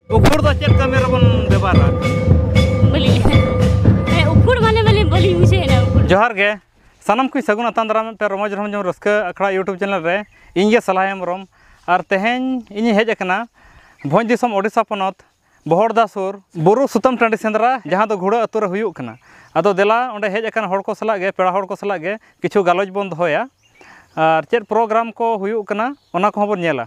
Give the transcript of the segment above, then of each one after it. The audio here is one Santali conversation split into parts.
ᱩᱠᱷᱩᱲ ᱫᱚ ᱪᱮᱫ ᱠᱟᱹᱢᱤ ᱨᱮᱵᱚᱱ ᱵᱮᱵᱚᱦᱟᱨᱟ ᱵᱟᱹᱞᱤᱧ ᱦᱮᱸ ᱩᱠᱷᱩᱲ ᱢᱟᱱᱮ ᱵᱟᱹᱞᱤᱧ ᱵᱟᱹᱞᱤᱧ ᱵᱩᱡᱷᱟᱹᱣᱮᱱᱟ ᱩᱠᱷᱩᱲ ᱡᱚᱦᱟᱨ ᱜᱮ ᱥᱟᱱᱟᱢ ᱠᱚ ᱥᱟᱹᱜᱩᱱ ᱟᱛᱟᱝ ᱫᱟᱨᱟᱢ ᱯᱮ ᱨᱚᱢᱚᱡᱽ ᱨᱚᱢᱚᱡᱽ ᱨᱟᱹᱥᱠᱟᱹ ᱟᱠᱷᱲᱟ ᱤᱭᱩᱴᱩᱵᱽ ᱪᱮᱱᱮᱞ ᱨᱮ ᱤᱧ ᱜᱮ ᱥᱟᱞᱦᱟ ᱦᱮᱢᱵᱨᱚᱢ ᱟᱨ ᱛᱮᱦᱮᱧ ᱤᱧᱤᱧ ᱦᱮᱡ ᱟᱠᱟᱱᱟ ᱵᱷᱚᱸᱡᱽ ᱫᱤᱥᱚᱢ ᱳᱰᱤᱥᱟ ᱯᱚᱱᱚᱛ ᱵᱚᱦᱚᱲᱫᱟ ᱥᱩᱨ ᱵᱩᱨᱩ ᱥᱩᱛᱟᱹᱢ ᱴᱟᱺᱰᱤ ᱥᱮᱸᱫᱽᱨᱟ ᱡᱟᱦᱟᱸ ᱫᱚ ᱜᱷᱩᱲᱟᱹ ᱟᱹᱛᱩ ᱨᱮ ᱦᱩᱭᱩᱜ ᱠᱟᱱᱟ ᱟᱫᱚ ᱫᱮᱞᱟ ᱚᱸᱰᱮ ᱦᱮᱡ ᱟᱠᱟᱱ ᱦᱚᱲ ᱠᱚ ᱥᱟᱞᱟᱜ ᱜᱮ ᱯᱮᱲᱟ ᱦᱚᱲ ᱠᱚ ᱥᱟᱞᱟᱜ ᱜᱮ ᱠᱤᱪᱷᱩ ᱜᱟᱞᱚᱪ ᱵᱚᱱ ᱫᱚᱦᱚᱭᱟ ᱟᱨ ᱪᱮᱫ ᱯᱨᱳᱜᱨᱟᱢ ᱠᱚ ᱦᱩᱭᱩᱜ ᱠᱟᱱᱟ ᱚᱱᱟ ᱠᱚᱦᱚᱸ ᱵᱚᱱ ᱧᱮᱞᱟ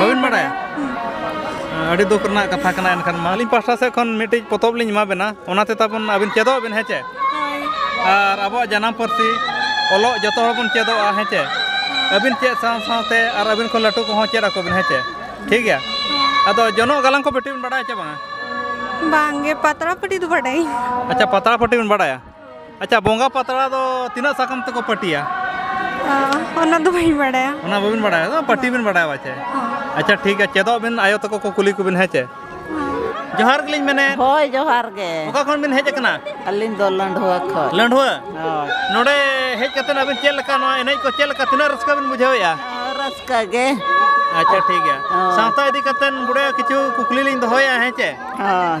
ᱵᱟᱹᱵᱤᱱ ᱵᱟᱲᱟᱭᱟ ᱟᱹᱰᱤ ᱫᱩᱠ ᱨᱮᱱᱟᱜ ᱠᱟᱛᱷᱟ ᱠᱟᱱᱟ ᱮᱱᱠᱷᱟᱱ ᱢᱟ ᱟᱹᱞᱤᱧ ᱯᱟᱥᱴᱟ ᱥᱮᱫ ᱠᱷᱚᱱ ᱢᱤᱫᱴᱤᱡ ᱯᱚᱛᱚᱵ ᱞᱤᱧ ᱮᱢᱟ ᱵᱮᱱᱟ ᱚᱱᱟᱛᱮ ᱛᱟᱵᱚᱱ ᱟᱹᱵᱤᱱ ᱪᱮᱫᱚᱜ ᱵᱮᱱ ᱦᱮᱸ ᱪᱮ ᱟᱨ ᱟᱵᱚᱣᱟᱜ ᱡᱟᱱᱟᱢ ᱯᱟᱹᱨᱥᱤ ᱚᱞᱚᱜ ᱡᱚᱛᱚ ᱦᱚᱲ ᱵᱚᱱ ᱪᱮᱫᱚᱜᱼᱟ ᱦᱮᱸ ᱪᱮ ᱟᱹᱵᱤᱱ ᱪᱮᱫ ᱥᱟᱶ ᱥᱟᱶᱛᱮ ᱟᱨ ᱟᱹᱵᱤᱱ ᱠᱷᱚᱱ ᱞᱟᱹᱴᱩ ᱠᱚᱦᱚᱸ ᱪᱮᱫ ᱟᱠᱚ ᱵᱮᱱ ᱦᱮᱸ ᱪᱮ ᱴᱷᱤᱠ ᱜᱮᱭᱟ ᱟᱫᱚ ᱡᱚᱱᱚᱜ ᱜᱟᱞᱟᱝ ᱠᱚ ᱵᱮᱴᱤ ᱵᱮᱱ ᱵᱟᱲᱟᱭᱟ ᱪᱮ ᱵᱟᱝᱟ ᱵᱟᱝᱜᱮ ᱯᱟᱛᱲᱟ ᱯᱟᱹᱴᱤ ᱫᱚ ᱵᱟᱰᱟᱭ ᱟᱪᱪᱷᱟ ᱯᱟᱛᱲᱟ ᱯᱟᱹᱴᱤ ᱵᱮᱱ ᱵᱟᱲᱟᱭᱟ ᱟᱪᱪᱷᱟ ᱵᱚᱸᱜᱟ ᱯᱟᱛᱲᱟ ᱫᱚ ᱛᱤᱱᱟᱹᱜ ᱥᱟᱠᱟᱢ ᱛᱮᱠᱚ ᱯᱟᱹᱴᱤᱭᱟ ᱚᱱᱟ ᱫᱚ ᱵᱟᱹᱧ ᱵᱟᱲᱟᱭᱟ ᱚᱱᱟ ᱵᱟᱹᱵᱤᱱ ᱵᱟᱲᱟᱭᱟ ᱯᱟᱹᱴᱤ ᱵᱤᱱ ᱵᱟᱲᱟᱭᱟ ᱵᱟᱪᱮ ᱟᱪᱪᱷᱟ ᱴᱷᱤᱠ ᱜᱮᱭᱟ ᱪᱮᱫᱚᱜ ᱵᱤᱱ ᱟᱭᱳ ᱛᱟᱠᱚ ᱠᱚ ᱠᱩᱞᱤ ᱠᱚᱵᱤᱱ ᱦᱮᱸ ᱪᱮ ᱡᱚᱦᱟᱨ ᱜᱮᱞᱤᱧ ᱢᱮᱱᱮ ᱦᱳᱭ ᱡᱚᱦᱟᱨ ᱜᱮ ᱚᱠᱟ ᱠᱷᱚᱱ ᱵᱤᱱ ᱦᱮᱡ ᱟᱠᱟᱱᱟ ᱟᱹᱞᱤᱧ ᱫᱚ ᱞᱟᱹᱰᱷᱩᱣᱟ ᱠᱷᱚᱱ ᱞᱟᱹᱰᱷᱩᱣᱟ ᱦᱳᱭ ᱱᱚᱰᱮ ᱦᱮᱡ ᱠᱟᱛᱮ ᱟᱵᱤᱱ ᱪᱮᱫ ᱞᱮᱠᱟ ᱱᱚᱣᱟ ᱮᱱᱮᱡ ᱠᱚ ᱪᱮᱫ ᱞᱮᱠᱟ ᱛᱤᱱᱟᱹᱜ ᱨᱟᱹᱥᱠᱟᱹ ᱵᱤᱱ ᱵᱩᱡᱷᱟᱹᱣᱮᱜᱼᱟ ᱨᱟᱹᱥᱠᱟᱹ ᱜᱮ ᱟᱪᱪᱷᱟ ᱴᱷᱤᱠ ᱜᱮᱭᱟ ᱥᱟᱶᱛᱟ ᱤᱫᱤ ᱠᱟᱛᱮ ᱵᱩᱰᱷᱟᱹ ᱠᱤᱪᱷᱩ ᱠᱩᱠᱞᱤ ᱞᱤᱧ ᱫᱚᱦᱚᱭᱟ ᱦᱮᱸ ᱪᱮ ᱦᱳᱭ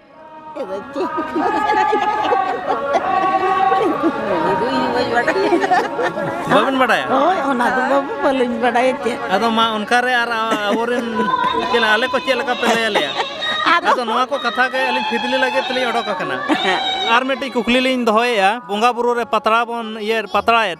ᱵᱟᱵᱮᱱ ᱵᱟᱰᱟᱭᱟ ᱦᱳᱭ ᱚᱱᱟ ᱫᱚ ᱵᱟᱹᱵᱩ ᱵᱟᱹᱞᱤᱧ ᱵᱟᱰᱟᱭᱟ ᱪᱮᱫ ᱟᱫᱚ ᱢᱟ ᱚᱱᱠᱟᱨᱮ ᱟᱨ ᱟᱵᱚᱨᱮᱱ ᱪᱮᱫ ᱟᱞᱮ ᱠᱚ ᱪᱮᱫ ᱞᱮᱠᱟ ᱯᱮ ᱞᱟᱹᱭ ᱟᱞᱮᱭᱟ ᱟᱫᱚ ᱱᱚᱣᱟ ᱠᱚ ᱠᱟᱛᱷᱟ ᱜᱮ ᱟᱹᱞᱤᱧ ᱯᱷᱤᱫᱽᱞᱤ ᱞᱟᱹᱜᱤᱫ ᱛᱮᱞᱤᱧ ᱚᱰᱚᱠ ᱟᱠᱟᱱᱟ ᱟᱨ ᱢᱤᱫᱴᱤᱡ ᱠᱩᱠᱞᱤ ᱞᱤᱧ ᱫᱚᱦᱚᱭᱮᱫᱼᱟ ᱵᱚᱸᱜᱟ ᱵᱩᱨᱩ ᱨᱮ ᱯᱟᱛᱲᱟ ᱵᱚᱱ ᱤᱭᱟᱹ ᱯᱟᱛᱲᱟᱭᱮᱫ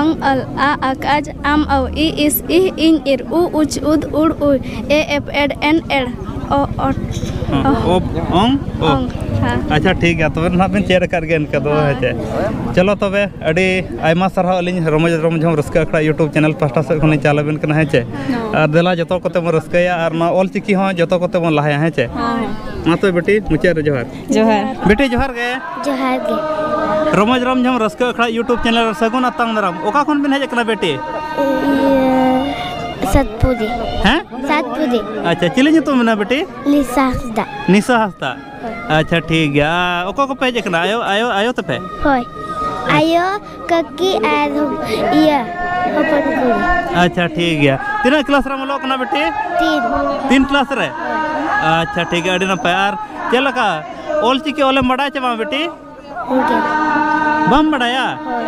ᱚᱝ ᱚᱞ ᱟ ᱟᱠᱟᱡᱽ ᱟᱢ ᱚ ᱤ ᱤᱥ ᱤ ᱤᱧ ᱤᱨ ᱩ ᱩᱪ ᱩᱫ ᱩᱲ ᱩᱭ ᱮ ᱮᱯᱷ ᱮᱰ ᱮᱱ ᱮᱲ ᱚ ᱚᱴ ᱚᱯᱷ ᱚᱝ ᱚᱝ ᱦᱮᱸ ᱟᱪᱪᱷᱟ ᱴᱷᱤᱠ ᱜᱮᱭᱟ ᱛᱚᱵᱮ ᱱᱟᱦᱟᱜ ᱵᱮᱱ ᱪᱮᱫ ᱟᱠᱟᱫ ᱜᱮᱭᱟ ᱤᱱᱠᱟᱹ ᱫᱚ ᱦᱮᱸ ᱪᱮ ᱪᱚᱞᱚ ᱛᱚᱵᱮ ᱟᱹᱰᱤ ᱟᱭᱢᱟ ᱥᱟᱨᱦᱟᱣ ᱟᱹᱞᱤᱧ ᱨᱚᱢᱚᱡᱽ ᱨᱚᱢ ᱡᱷᱚᱢ ᱨᱟᱹᱥᱠᱟᱹ ᱟᱠᱷᱲᱟ ᱤᱭᱩᱴᱩᱵᱽ ᱪᱮᱱᱮᱞ ᱯᱟᱥᱴᱟ ᱥᱮᱫ ᱠᱷᱚᱱ ᱞᱤᱧ ᱪᱟᱞ ᱟᱵᱮᱱ ᱠᱟᱱᱟ ᱦᱮᱸ ᱪᱮ ᱟᱨ ᱫᱮᱞᱟ ᱡᱚᱛᱚ ᱠᱚᱛᱮ ᱵᱚᱱ ᱨᱟᱹᱥᱠᱟᱹᱭᱟ ᱟᱨ ᱱᱚᱣᱟ ᱚᱞ ᱪᱤᱠᱤ ᱦᱚᱸ ᱡᱚᱛᱚ ᱠᱚᱛᱮ ᱵᱚᱱ ᱞᱟᱦᱟᱭᱟ ᱦᱮᱸ ᱪᱮ ᱢᱟ ᱛᱚᱵᱮ ᱵᱤᱴᱤ ᱢᱩᱪᱟᱹᱫ ᱨᱮ ᱡᱚᱦᱟᱨ ᱡᱚᱦᱟᱨ ᱵᱮᱴᱤ ᱡᱚᱦᱟᱨ ᱜᱮ ᱡᱚᱦᱟᱨ ᱜᱮ ᱨᱚᱢᱚᱡᱽ ᱨᱚᱢ ᱡᱷᱚᱢ ᱨᱟᱹᱥᱠᱟᱹ ᱟᱠᱷᱲᱟ ᱤᱭᱩᱴᱩᱵᱽ ᱪᱮᱱᱮᱞ ᱨᱮ ᱥᱟᱹᱜᱩᱱ ᱟᱛᱟᱝ ᱫᱟᱨᱟᱢ ᱚᱠᱟ ᱠᱷᱚᱱ ᱵᱤᱱ ᱦᱮᱡ ᱟᱠᱟᱱᱟ ᱵᱮᱴᱤ ᱥᱟᱛᱯᱩᱨᱤ ᱦᱮᱸ ᱥᱟᱛᱯᱩᱨᱤ ᱟᱪᱪᱷᱟ ᱪᱤᱞᱤ ᱧᱩᱛᱩᱢ ᱢᱮᱱᱟᱜᱼᱟ ᱵᱮᱴᱤ ᱞᱤᱥᱟ ᱦᱟᱸᱥᱫᱟ ᱱᱤᱥᱟ ᱦᱟᱸᱥᱫᱟ ᱟᱪᱪᱷᱟ ᱴᱷᱤᱠ ᱜᱮᱭᱟ ᱚᱠᱚᱭ ᱠᱚᱯᱮ ᱦᱮᱡ ᱟᱠᱟᱱᱟ ᱟᱭᱳ ᱟᱭᱳ ᱟᱭᱳ ᱛᱟᱯᱮ ᱦᱳᱭ ᱟᱭᱳ ᱠᱟᱹᱠᱤ ᱟᱨ ᱤᱭᱟᱹ ᱦᱚᱯᱚᱱ ᱠᱩᱲᱤ ᱟᱪᱪᱷᱟ ᱴᱷᱤᱠ ᱜᱮᱭᱟ ᱛᱤᱱᱟᱹᱜ ᱠᱞᱟᱥ ᱨᱮᱢ ᱚᱞᱚᱜ ᱠᱟᱱᱟ ᱵᱤᱴᱤ ᱛᱤᱱ ᱛᱤᱱ ᱠᱞᱟᱥ ᱨᱮ ᱟᱪᱪᱷᱟ ᱴᱷᱤᱠ ᱜᱮᱭᱟ ᱟᱹᱰᱤ ᱱᱟᱯᱟᱭ ᱟᱨ ᱪᱮᱫ ᱞᱮᱠᱟ ᱚᱞ ᱪᱤᱠᱤ ᱚᱞᱮᱢ ᱵᱟᱰᱟᱭ ᱪᱮ ᱵᱟᱝ ᱵᱤᱴᱤ ᱩᱱᱠᱤᱱ ᱵᱟᱢ ᱵᱟᱰᱟᱭᱟ ᱦᱳᱭ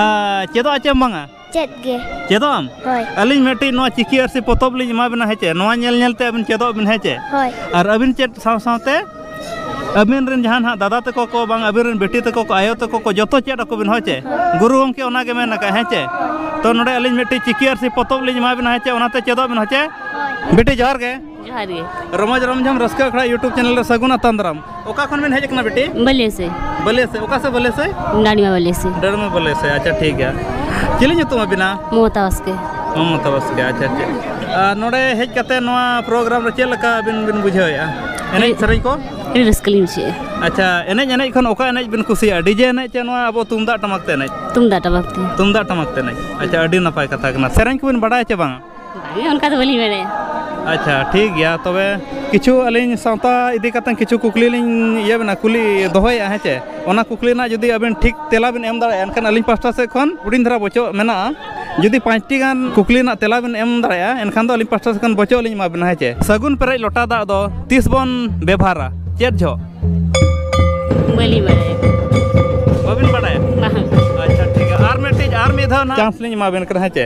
ᱟᱨ ᱪᱮᱫᱚᱜ ᱟᱪᱮᱢ ᱵᱟᱝᱟ ᱪᱮᱫ ᱜᱮ ᱪᱮᱫᱚᱜ ᱟᱢ ᱦᱳᱭ ᱟᱹᱞᱤᱧ ᱢᱤᱫᱴᱤᱡ ᱱᱚᱣᱟ ᱪᱤᱠᱤ ᱟᱨᱥᱤ ᱯᱚᱛᱚᱵ ᱞᱤᱧ ᱮᱢᱟ ᱵᱮᱱᱟ ᱦᱮᱸᱪᱮ ᱱᱚᱣᱟ ᱧᱮᱞ ᱧᱮᱞ ᱛᱮ ᱟᱹᱵᱤᱱ ᱪᱮᱫᱚᱜ ᱵᱤᱱ ᱦᱮᱸᱪᱮ ᱦᱳᱭ ᱟᱨ ᱟᱹᱵᱤᱱ ᱪᱮᱫ ᱥᱟᱶ ᱥᱟᱶᱛᱮ ᱟᱹᱵᱤᱱ ᱨᱮᱱ ᱡᱟᱦᱟᱸ ᱱᱟᱦᱟᱜ ᱫᱟᱫᱟ ᱛᱟᱠᱚ ᱠᱚ ᱵᱟᱝ ᱟᱹᱵᱤᱱ ᱨᱮᱱ ᱵᱤᱴᱤ ᱛᱟᱠᱚ ᱠᱚ ᱟᱭᱳ ᱛᱟᱠᱚ ᱠᱚ ᱡᱚᱛᱚ ᱪᱮᱫ ᱟᱠᱚ ᱵᱤᱱ ᱦᱳᱭ ᱪᱮ ᱜᱩᱨᱩ ᱜᱚᱢᱠᱮ ᱚᱱᱟ ᱜᱮ ᱢᱮᱱ ᱟᱠᱟᱫ ᱦᱮᱸᱪᱮ ᱛᱚ ᱱᱚᱰᱮ ᱟᱹᱞᱤᱧ ᱢᱤᱫᱴᱤᱡ ᱪᱤᱠᱤ ᱟᱨᱥᱤ ᱯᱚᱛᱚᱵ ᱞᱤᱧ ᱮᱢᱟ ᱵᱮᱱᱟ ᱦᱮᱸᱪᱮ ᱚᱱᱟᱛᱮ ᱪᱮᱫᱚᱜ ᱵᱮᱱ ᱦᱮᱸᱪᱮ ᱵᱤᱴᱤ ᱡᱚᱦᱟᱨ ᱜᱮ ᱡᱚᱦᱟᱨ ᱜᱮ ᱨᱚᱢᱚᱡᱽ ᱨᱚᱢᱡᱷᱚᱢ ᱨᱟᱹᱥᱠᱟᱹ ᱟᱠᱷᱲᱟ ᱤᱭᱩᱴᱩᱵᱽ ᱪᱮᱱᱮᱞ ᱨᱮ ᱥᱟᱹᱜᱩᱱ ᱟᱛᱟᱝ ᱫᱟᱨᱟᱢ ᱚᱠᱟ ᱠᱷᱚᱱ ᱵᱮᱱ ᱦᱮᱡ ᱟᱠᱟᱱᱟ ᱵᱤᱴᱤ ᱵᱟᱹᱞᱮ ᱥᱮ ᱵᱟᱹᱞᱮ ᱥᱮ ᱚᱠᱟ ᱥᱮ ᱵᱟᱹᱞᱮ ᱥᱮ ᱰᱟᱹᱰᱤᱢᱟ ᱵᱟᱹᱞᱮ ᱥᱮ ᱰᱟᱹᱰᱤᱢᱟ ᱵᱟᱹᱞᱮ ᱥᱮ ᱟᱪᱪᱷᱟ ᱴᱷᱤᱠ ᱜᱮᱭᱟ ᱪᱤᱞᱤ ᱧᱩᱛᱩᱢ ᱟᱹᱵᱤᱱᱟ ᱢᱚᱢᱚᱛᱟ ᱵᱟᱥᱠᱮ ᱢᱚᱢᱚᱛᱟ ᱵᱟᱥᱠᱮ ᱟᱪᱪᱷᱟ ᱴᱷᱤᱠ ᱟᱨ ᱱᱚᱰᱮ ᱦᱮᱡ ᱠᱟᱛᱮ ᱱᱚᱣᱟ ᱯᱨᱳᱜᱨᱟᱢ ᱨᱮ ᱪᱮᱫ ᱞᱮᱠᱟ ᱟᱹᱵᱤᱱ ᱵᱤᱱ ᱵᱩᱡᱷᱟᱹᱣᱮᱫᱼᱟ ᱮᱱᱮᱡ ᱥᱮᱨᱮᱧ ᱠᱚ ᱟᱹᱰᱤ ᱨᱟᱹᱥᱠᱟᱹ ᱞᱤᱧ ᱵᱩᱡᱷᱟᱹᱣᱮᱫᱼᱟ ᱟᱪᱪᱷᱟ ᱮᱱᱮᱡ ᱮᱱᱮᱡ ᱠᱷᱚᱱ ᱚᱠᱟ ᱮᱱᱮᱡ ᱵᱤᱱ ᱠᱩᱥᱤᱭᱟᱜᱼᱟ ᱰᱤᱡᱮ ᱮᱱᱮᱡ ᱪᱮ ᱱᱚᱣᱟ ᱟᱵᱚ ᱛᱩᱢᱫᱟᱜ ᱴᱟᱢᱟᱠ ᱛᱮ ᱮᱱᱮᱡ ᱛᱩᱢᱫᱟᱜ ᱴᱟᱢᱟᱠ ᱛᱮ ᱛᱩᱢᱫᱟᱜ ᱴᱟᱢᱟᱠ ᱛᱮ ᱮᱱᱮᱡ ᱟᱪᱪᱷᱟ ᱟᱹᱰᱤ ᱱᱟᱯᱟᱭ ᱠᱟᱛᱷᱟ ᱠᱟᱱᱟ ᱥᱮᱨᱮᱧ ᱠᱚᱵᱤᱱ ᱵᱟᱰᱟᱭᱟ ᱪᱮ ᱵᱟᱝᱟ ᱵᱟᱝ ᱚᱱᱠᱟ ᱫᱚ ᱵᱟᱹᱞᱤᱧ ᱵᱟᱲᱟᱭᱟ ᱟᱪᱪᱷᱟ ᱴᱷᱤᱠ ᱜᱮᱭᱟ ᱛᱚᱵᱮ ᱠᱤᱪᱷᱩ ᱟᱹᱞᱤᱧ ᱥᱟᱶᱛᱟ ᱤᱫᱤ ᱠᱟᱛᱮ ᱠᱤᱪᱷᱩ ᱠᱩᱠᱞᱤ ᱞᱤᱧ ᱤᱭᱟᱹ ᱵᱮᱱᱟ ᱠᱩᱞᱤ ᱫᱚᱦᱚᱭᱮᱫᱼᱟ ᱦᱮᱸ ᱪᱮ ᱚᱱᱟ ᱠᱩᱠᱞᱤ ᱨᱮᱱᱟᱜ ᱡᱩᱫᱤ ᱟᱵᱮᱱ ᱴᱷᱤᱠ ᱛᱮᱞᱟ ᱵᱮᱱ ᱮᱢ ᱫᱟᱲᱮᱭᱟᱜᱼᱟ ᱮᱱᱠᱷᱟᱱ ᱟᱹᱞᱤᱧ ᱯᱟᱥᱴᱟ ᱥᱮᱫ ᱠᱷᱚᱱ ᱦᱩᱰᱤᱧ ᱫᱷᱟᱨᱟ ᱵᱚᱪᱚᱜ ᱢᱮᱱᱟᱜᱼᱟ ᱡᱩᱫᱤ ᱯᱟᱸᱪᱴᱤ ᱜᱟᱱ ᱠᱩᱠᱞᱤ ᱨᱮᱱᱟᱜ ᱛᱮᱞᱟ ᱵᱮᱱ ᱮᱢ ᱫᱟᱲᱮᱭᱟᱜᱼᱟ ᱮᱱᱠᱷᱟᱱ ᱫᱚ ᱟᱹᱞᱤᱧ ᱯᱟᱥᱴᱟ ᱥᱮᱫ ᱠᱷᱚᱱ ᱵᱚᱪᱚᱜ ᱞᱤᱧ ᱮᱢᱟ ᱵᱮᱱᱟ ᱦᱮᱸ ᱪᱮ ᱥᱟᱹᱜᱩᱱ ᱯᱮᱨᱮᱡ ᱞᱚᱴᱟ ᱫᱟᱜ ᱫᱚ ᱛᱤᱥ ᱵᱚᱱ ᱵᱮᱵᱷᱟᱨᱟ ᱪᱮᱫ ᱡᱚᱦᱚᱜ ᱵᱟᱹᱞᱤᱧ ᱵᱟᱲᱟᱭᱟ ᱵᱟᱵᱮᱱ ᱵᱟᱲᱟᱭᱟ ᱵᱟᱝ ᱟᱪᱪᱷᱟ ᱴᱷᱤᱠ ᱜᱮᱭᱟ ᱟᱨ ᱢᱤᱫᱴᱤᱡ ᱟᱨ ᱢᱤᱫ ᱫᱷᱟᱣ ᱪᱟᱱᱥ ᱞᱤᱧ ᱮᱢᱟ ᱵᱮᱱ ᱠᱟᱱᱟ ᱦᱮᱸ ᱪᱮ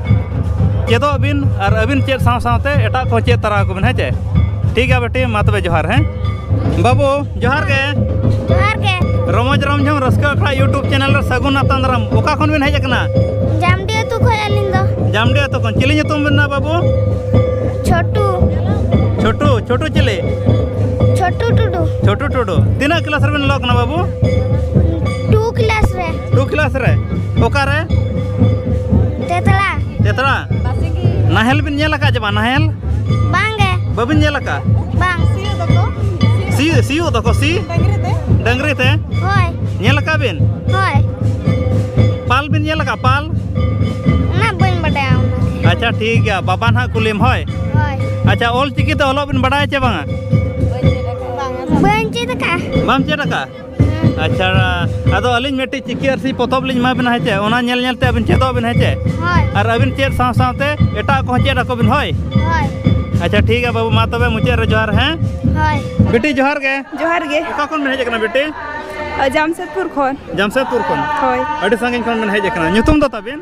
ᱪᱮᱫᱚᱜ ᱵᱤᱱ ᱟᱨ ᱟᱹᱵᱤᱱ ᱪᱮᱫ ᱥᱟᱶ ᱥᱟᱶᱛᱮ ᱮᱴᱟᱜ ᱠᱚ ᱪᱮᱫ ᱛᱟᱨᱟ ᱟᱠᱚ ᱵᱤᱱ ᱦᱮᱸ ᱪᱮ ᱴᱷᱤᱠ ᱜᱮᱭᱟ ᱵᱮᱴᱤ ᱢᱟ ᱛᱚᱵᱮ ᱡᱚᱦᱟᱨ ᱦᱮᱸ ᱵᱟᱹᱵᱩ ᱡᱚᱦᱟᱨ ᱜᱮ ᱡᱚᱦᱟᱨ ᱜᱮ ᱨᱚᱢᱚᱡᱽ ᱨᱚᱢᱡᱷᱚᱢ ᱨᱟᱹᱥᱠᱟᱹ ᱟᱠᱷᱲᱟ ᱤᱭᱩᱴᱩᱵᱽ ᱪᱮᱱᱮᱞ ᱨᱮ ᱥᱟᱹᱜᱩᱱ ᱟᱛᱟᱝ ᱫᱟᱨᱟᱢ ᱚᱠᱟ ᱠᱷᱚᱱ ᱵᱤᱱ ᱦᱮᱡ ᱟᱠᱟᱱᱟ ᱡᱟᱢᱰᱤ ᱟᱹᱛᱩ ᱠᱷᱚᱱ ᱟᱹᱞᱤᱧ ᱫᱚ ᱡᱟᱢᱰᱤ ᱟᱹᱛᱩ ᱠᱷᱚᱱ ᱪᱤᱞᱤ ᱧᱩᱛᱩᱢ ᱵᱤᱱ ᱢᱮᱱᱟ ᱵᱟᱹᱵᱩ ᱪᱷᱳᱴᱩ ᱪᱷᱳᱴᱩ ᱪᱷᱳᱴᱩ ᱪᱤᱞᱤ ᱪᱷᱳᱴᱩ ᱴᱩᱰᱩ ᱪᱷᱳᱴᱩ ᱴᱩᱰᱩ ᱛᱤᱱᱟᱹᱜ ᱠᱞᱟᱥ ᱨᱮᱵᱤᱱ ᱚᱞᱚᱜ ᱠᱟᱱᱟ ᱵᱟᱹᱵᱩ ᱴᱩ ᱠᱞᱟᱥ ᱨᱮ ᱚᱠᱟᱨᱮ ᱛᱮᱛᱞᱟ ᱛᱮᱛᱞᱟ ᱱᱟᱦᱮᱞ ᱵᱤᱱ ᱧᱮᱞ ᱟᱠᱟᱫ ᱪᱮ ᱵᱟᱝ ᱱᱟᱦᱮᱞ ᱵᱟᱝ ᱜᱮ ᱵᱟᱵᱤᱱ ᱧᱮᱞ ᱟᱠᱟᱫ ᱵᱟᱝ ᱥᱤᱭᱳᱜ ᱫᱚᱠᱚ ᱥᱤ ᱥᱤᱭᱳᱜ ᱫᱚᱠᱚ ᱥᱤ ᱰᱟᱝᱨᱤ ᱛᱮ ᱰᱟᱝᱨᱤ ᱛᱮ ᱦᱳᱭ ᱧᱮᱞ ᱟᱠᱟᱫ ᱵᱤᱱ ᱦᱳᱭ ᱯᱟᱞ ᱵᱤᱱ ᱧᱮᱞ ᱟᱠᱟᱫ ᱯᱟᱞ ᱚᱱᱟ ᱵᱟᱹᱧ ᱵᱟᱰᱟᱭᱟ ᱚᱱᱟ ᱟᱪᱪᱷᱟ ᱴᱷᱤᱠ ᱜᱮᱭᱟ ᱵᱟᱵᱟ ᱱᱟᱦᱟᱜ ᱠᱩᱞᱤᱢ ᱦᱳᱭ ᱦᱳᱭ ᱟᱪᱪᱷᱟ ᱚᱞ ᱪᱤᱠᱤ ᱛᱮ ᱚᱞᱚᱜ ᱵᱤᱱ ᱵᱟᱰᱟᱭᱟ ᱪᱮ ᱵᱟᱝᱟ ᱵᱟᱹᱧ ᱪᱮᱫ ᱟᱠᱟᱫᱼᱟ ᱵᱟᱢ ᱪᱮᱫ ᱟᱠᱟᱫᱼᱟ ᱟᱪᱪᱷᱟ ᱟᱫᱚ ᱟᱹᱞᱤᱧ ᱢᱤᱫᱴᱤᱡ ᱪᱤᱠᱤ ᱟᱨ ᱥᱤ ᱯᱚᱛᱚᱵ ᱞᱤᱧ ᱮᱢᱟ ᱵᱮᱱᱟ ᱦᱮᱸᱪᱮ ᱚᱱᱟ ᱧᱮᱞ ᱧᱮᱞ ᱛᱮ ᱟᱹᱵᱤᱱ ᱪᱮᱫᱚᱜ ᱵᱤᱱ ᱦᱮᱸᱪᱮ ᱟᱨ ᱟᱹᱵᱤᱱ ᱪᱮᱫ ᱥᱟᱶ ᱥᱟᱶᱛᱮ ᱮᱴᱟᱜ ᱠᱚᱦᱚᱸ ᱪᱮᱫ ᱟᱠᱚ ᱵᱤᱱ ᱦᱳᱭ ᱟᱪᱪᱷᱟ ᱴᱷᱤᱠ ᱜᱮᱭᱟ ᱵᱟᱹᱵᱩ ᱢᱟ ᱛᱚᱵᱮ ᱢᱩᱪᱟᱹᱫ ᱨᱮ ᱡᱚᱦᱟᱨ ᱦᱮᱸ ᱵᱤᱴᱤ ᱡᱚᱦᱟᱨ ᱜᱮ ᱡᱚᱦᱟᱨ ᱜᱮ ᱚᱠᱟ ᱠᱷᱚᱱ ᱵᱤᱱ ᱦᱮᱡ ᱟᱠᱟᱱᱟ ᱵᱤᱴᱤ ᱡᱟᱢᱥᱮᱫᱽᱯᱩᱨ ᱠᱷᱚᱱ ᱡᱟᱢᱥᱮᱫᱽᱯᱩᱨ ᱠᱷᱚᱱ ᱦᱳᱭ ᱟᱹᱰᱤ ᱥᱟᱺᱜᱤᱧ ᱠᱷᱚᱱ ᱵᱤᱱ ᱦᱮᱡ ᱟᱠᱟᱱᱟ ᱧᱩᱛᱩᱢ ᱫᱚ ᱛᱟᱵᱤᱱ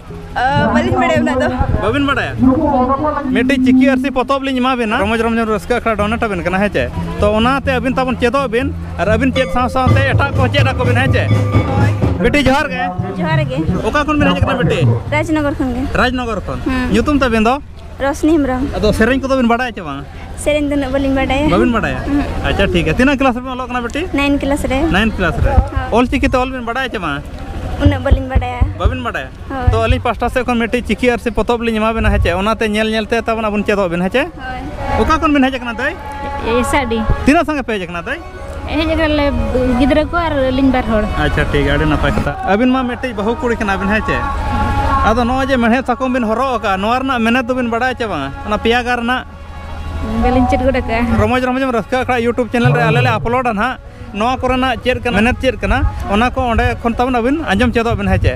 ᱵᱟᱹᱞᱤᱧ ᱵᱟᱲᱟᱭᱟ ᱩᱱᱟᱹᱜ ᱫᱚ ᱵᱟᱹᱵᱤᱱ ᱵᱟᱲᱟᱭᱟ ᱢᱤᱫᱴᱤᱡ ᱪᱤᱠᱤ ᱟᱨᱥᱤ ᱯᱚᱛᱚᱵ ᱞᱤᱧ ᱮᱢᱟ ᱵᱤᱱᱟ ᱨᱚᱢᱚᱡᱽ ᱨᱚᱢᱚᱡᱽ ᱨᱟᱹᱥᱠᱟᱹ ᱟᱠᱷᱲᱟ ᱰᱚᱱᱮᱴ ᱟᱵᱤᱱ ᱠᱟᱱᱟ ᱦᱮᱸ ᱪᱮ ᱛᱚ ᱚᱱᱟᱛᱮ ᱟᱹᱵᱤᱱ ᱛᱟᱵᱚᱱ ᱪᱮᱫᱚᱜ ᱵᱤᱱ ᱟᱨ ᱟᱹᱵᱤᱱ ᱪᱮᱫ ᱥᱟᱶ ᱥᱟᱶᱛᱮ ᱮᱴᱟᱜ ᱠᱚ ᱪᱮᱫ ᱟᱠᱚ ᱵᱤᱱ ᱦᱮᱸ ᱪᱮ ᱵᱤᱴᱤ ᱡᱚᱦᱟᱨ ᱜᱮ ᱡᱚᱦᱟᱨ ᱜᱮ ᱚᱠᱟ ᱠᱷᱚᱱ ᱵᱤᱱ ᱦᱮᱡ ᱟᱠᱟᱱᱟ ᱵᱤᱴᱤ ᱨᱟᱡᱽᱱᱚᱜᱚᱨ ᱠᱷᱚᱱ ᱜᱮ ᱨᱟᱡᱽᱱᱚᱜᱚᱨ ᱠᱷᱚᱱ ᱧᱩᱛᱩᱢ ᱛᱟᱵᱤᱱ ᱫᱚ ᱨᱚᱥᱱᱤ ᱦᱮᱢᱵᱨᱚᱢ ᱟᱫᱚ ᱥᱮᱨᱮᱧ ᱠᱚᱫᱚ ᱵᱤᱱ ᱵᱟᱰᱟᱭᱟ ᱪᱮ ᱵᱟᱝ ᱥᱮᱨᱮᱧ ᱫᱚ ᱩᱱᱟᱹᱜ ᱵᱟᱹᱞᱤᱧ ᱵᱟᱰᱟᱭᱟ ᱵᱟᱵᱤᱱ ᱵᱟᱰᱟᱭᱟ ᱟᱪᱪᱷᱟ ᱴᱷᱤᱠ ᱜᱮᱭᱟ ᱛᱤᱱᱟᱹᱜ ᱠᱞᱟᱥ ᱨᱮᱵᱤᱱ ᱚᱞᱚᱜ ᱠᱟᱱᱟ ᱵᱮᱴᱤ ᱱᱟᱭᱤᱱ ᱠᱞᱟᱥ ᱨᱮ ᱱᱟᱭᱤᱱ ᱠᱞᱟᱥ ᱨᱮ ᱚᱞ ᱪᱤᱠᱤ ᱛᱮ ᱚᱞ ᱵᱤᱱ ᱵᱟᱰᱟᱭᱟ ᱪᱮ ᱵᱟᱝ ᱩᱱᱟᱹᱜ ᱵᱟᱹᱞᱤᱧ ᱵᱟᱰᱟᱭᱟ ᱵᱟᱵᱤᱱ ᱵᱟᱰᱟᱭᱟ ᱦᱳᱭ᱾ ᱛᱚ ᱟᱹᱞᱤᱧ ᱯᱟᱥᱴᱟ ᱥᱮᱫ ᱠᱷᱚᱱ ᱢᱤᱫᱴᱤᱡ ᱪᱤᱠᱤ ᱟᱨ ᱥᱮ ᱯᱚᱛᱚᱵ ᱞᱤᱧ ᱮᱢᱟ ᱵᱮᱱᱟ ᱦᱮᱸᱪᱮ ᱚᱱᱟᱛᱮ ᱧᱮᱞ ᱧᱮᱞ ᱛᱮ ᱛᱟᱵᱚᱱ ᱟᱵᱚᱱ ᱪᱮᱫᱚᱜ ᱵᱮᱱ ᱦᱮᱸᱪᱮ ᱦᱳᱭ ᱚᱠᱟ ᱠᱷᱚᱱ ᱵᱤᱱ ᱦᱮᱡ ᱟᱠᱟᱱᱟ ᱫᱟᱹᱭ ᱮᱥᱟᱰᱤ ᱛᱤᱱᱟᱹᱜ ᱥᱟᱸᱜᱮ ᱯᱮ ᱦᱮᱡ ᱟᱠᱟᱱᱟ ᱫᱟᱹᱭ ᱦᱮᱡ ᱟᱠᱟᱱᱟᱞᱮ ᱜᱤᱫᱽᱨᱟᱹ ᱠᱚ ᱟᱨ ᱟᱹᱞᱤᱧ ᱵᱟᱨ ᱦᱚᱲ ᱟᱪᱪᱷᱟ ᱴᱷᱤᱠ ᱟᱹᱰᱤ ᱱᱟᱯᱟᱭ ᱠᱟᱛᱷᱟ ᱟᱹᱵᱤᱱ ᱢᱟ ᱢᱤᱫᱴᱤᱡ ᱵᱟᱹᱦᱩ ᱠᱩᱲᱤ ᱠᱟᱱᱟ ᱵᱤᱱ ᱦᱮᱸ ᱪᱮ ᱟᱫᱚ ᱱᱚᱜᱼᱚᱭ ᱡᱮ ᱢᱮᱬᱦᱮᱫ ᱥᱟᱠᱚᱢ ᱵᱤᱱ ᱦᱚᱨᱚᱜ ᱟᱠᱟᱫᱼᱟ ᱱᱚᱣᱟ ᱨᱮᱱᱟᱜ ᱢᱮᱱᱮᱛ ᱫᱚᱵᱤᱱ ᱵᱟᱲᱟᱭᱟ ᱪᱮ ᱵᱟᱝᱟ ᱚᱱᱟ ᱯᱮᱭᱟ ᱜᱟᱨ ᱨᱮᱱᱟᱜ ᱵᱟᱹᱞᱤᱧ ᱪᱮᱫ ᱜᱚᱫ ᱟᱠᱟᱫᱼᱟ ᱨᱚᱢᱚᱡᱽ ᱨᱚᱢᱚᱡᱽ ᱮᱢ ᱨᱟᱹᱥᱠᱟᱹ ᱟᱠᱷᱲᱟ ᱤᱭᱩᱴᱩᱵᱽ ᱪᱮᱱᱮᱞ ᱨᱮ ᱟᱞᱮ ᱞᱮ ᱟᱯᱞᱳᱰᱟ ᱱᱟᱦᱟᱜ ᱱᱚᱣᱟ ᱠᱚᱨᱮᱱᱟᱜ ᱪᱮᱫ ᱠᱟᱱᱟ ᱢᱮᱱᱮᱛ ᱪᱮᱫ ᱠᱟᱱᱟ ᱚᱱᱟ ᱠᱚ ᱚᱸᱰᱮ ᱠᱷᱚᱱ ᱛᱟᱵᱚᱱ ᱟᱹᱵᱤᱱ ᱟᱸᱡᱚᱢ ᱪᱮᱫᱚᱜ ᱵᱤᱱ ᱦᱮᱸ ᱪᱮ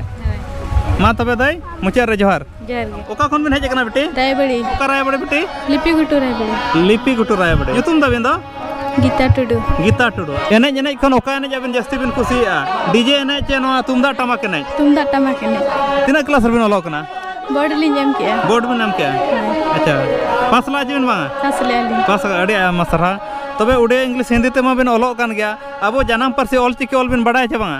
ᱢᱟ ᱛᱚᱵᱮ ᱫᱟᱹᱭ ᱢᱩᱪᱟᱹᱫ ᱨᱮ ᱡᱚᱦᱟᱨ ᱡᱚᱦᱟᱨ ᱜᱮ ᱚᱠᱟ ᱠᱷᱚᱱ ᱵᱤᱱ ᱦᱮᱡ ᱟᱠᱟᱱᱟ ᱵᱤᱴᱤ ᱨᱟᱭᱵᱟᱲᱤ ᱚᱠᱟ ᱨᱟᱭᱵᱟᱲᱤ ᱵᱤᱴᱤ ᱞᱤᱯᱤ ᱜᱷᱩᱴᱩ ᱨᱟᱭᱵᱟᱲᱤ ᱞᱤᱯᱤ ᱜᱷᱩᱴᱩ ᱨᱟᱭᱵᱟᱲᱤ ᱧᱩᱛᱩᱢ ᱫᱟᱵᱤᱱ ᱫᱚ ᱜᱤᱛᱟ ᱴᱩᱰᱩ ᱜᱤᱛᱟ ᱴᱩᱰᱩ ᱮᱱᱮᱡ ᱮᱱᱮᱡ ᱠᱷᱚᱱ ᱚᱠᱟ ᱮᱱᱮᱡ ᱟᱵᱤᱱ ᱡᱟᱹᱥᱛᱤ ᱵᱤᱱ ᱠᱩᱥᱤᱭᱟᱜᱼᱟ ᱰᱤᱡᱮ ᱮᱱᱮᱡ ᱪᱮ ᱱᱚᱣᱟ ᱛᱩᱢᱫᱟᱜ ᱴᱟᱢᱟᱠ ᱮᱱᱮᱡ ᱛᱩᱢᱫᱟᱜ ᱴᱟᱢᱟᱠ ᱮᱱᱮᱡ ᱛᱤᱱᱟᱹᱜ ᱠᱞᱟᱥ ᱨᱮᱵᱤᱱ ᱚᱞᱚᱜ ᱠᱟᱱᱟ ᱵᱳᱨᱰ ᱞᱤᱧ ᱮᱢ ᱠᱮᱜᱼᱟ ᱵᱳᱨᱰ ᱵᱤᱱ ᱮᱢ ᱠᱮᱜᱼᱟ ᱟᱪᱪᱷᱟ ᱯᱟᱥ ᱞᱟᱜᱼᱟ ᱪᱮᱵᱤᱱ ᱵᱟᱝᱟ ᱯᱟᱥ ᱞᱮᱜᱼᱟ ᱞᱤᱧ ᱯᱟᱥ ᱟᱹᱰᱤ ᱟᱭᱢᱟ ᱥᱟᱨᱦᱟᱣ ᱛᱚᱵᱮ ᱩᱰᱤᱭᱟ ᱤᱝᱞᱤᱥ ᱦᱤᱱᱫᱤ ᱛᱮᱢᱟ ᱵᱤᱱ ᱚᱞᱚᱜ ᱠᱟᱱ ᱜᱮᱭᱟ ᱟᱵᱚ ᱡᱟᱱᱟᱢ ᱯᱟᱹᱨᱥᱤ ᱚᱞ ᱪᱤᱠᱤ ᱚᱞ ᱵᱤᱱ ᱵᱟᱰᱟᱭᱟ ᱪᱮ ᱵᱟᱝᱟ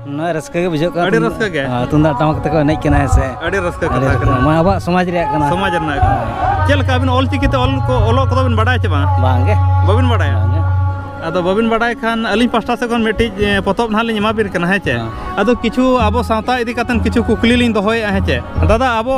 ᱱᱚᱣᱟ ᱨᱟᱹᱥᱠᱟᱹ ᱜᱮ ᱵᱩᱡᱷᱟᱹᱜ ᱠᱟᱱᱟ ᱟᱹᱰᱤ ᱨᱟᱹᱥᱠᱟᱹ ᱜᱮ ᱛᱩᱢᱫᱟᱜ ᱴᱟᱢᱟᱠ ᱛᱮᱠᱚ ᱮᱱᱮᱡ ᱠᱟᱱᱟ ᱦᱮᱸ ᱥᱮ ᱟᱹᱰᱤ ᱨᱟᱹᱥᱠᱟᱹ ᱠᱟᱛᱷᱟ ᱠᱟᱱᱟ ᱱᱚᱣᱟ ᱟᱵᱚᱣᱟᱜ ᱥᱚᱢᱟᱡᱽ ᱨᱮᱭᱟᱜ ᱠᱟᱱᱟ ᱥᱚᱢᱟᱡᱽ ᱨᱮᱱᱟᱜ ᱠᱟᱱᱟ ᱪᱮᱫ ᱞᱮᱠᱟ ᱟᱹᱵᱤᱱ ᱚᱞ ᱪᱤᱠᱤ ᱛᱮ ᱚᱞ ᱠᱚ ᱚᱞᱚᱜ ᱠᱚᱫᱚ ᱵᱤᱱ ᱵᱟᱰᱟᱭ ᱪᱮ ᱵᱟᱝ ᱵᱟᱝ ᱜᱮ ᱵᱟᱹᱵᱤᱱ ᱵᱟᱰᱟᱭᱟ ᱟᱫᱚ ᱵᱟᱹᱵᱤᱱ ᱵᱟᱰᱟᱭ ᱠᱷᱟᱱ ᱟᱹᱞᱤᱧ ᱯᱟᱥᱴᱟ ᱥᱮᱫ ᱠᱷᱚᱱ ᱢᱤᱫᱴᱤᱡ ᱯᱚᱛᱚᱵ ᱱᱟᱦᱟᱜ ᱞᱤᱧ ᱮᱢᱟ ᱵᱤᱱ ᱠᱟᱱᱟ ᱦᱮᱸ ᱪᱮ ᱟᱫᱚ ᱠᱤᱪᱷᱩ ᱟᱵᱚ ᱥᱟᱶᱛᱟ ᱤᱫᱤ ᱠᱟᱛᱮᱫ ᱠᱤᱪᱷᱩ ᱠᱩᱠᱞᱤ ᱞᱤᱧ ᱫᱚᱦᱚᱭᱮᱫᱼᱟ ᱦᱮᱸ ᱪᱮ ᱫᱟᱫᱟ ᱟᱵᱚ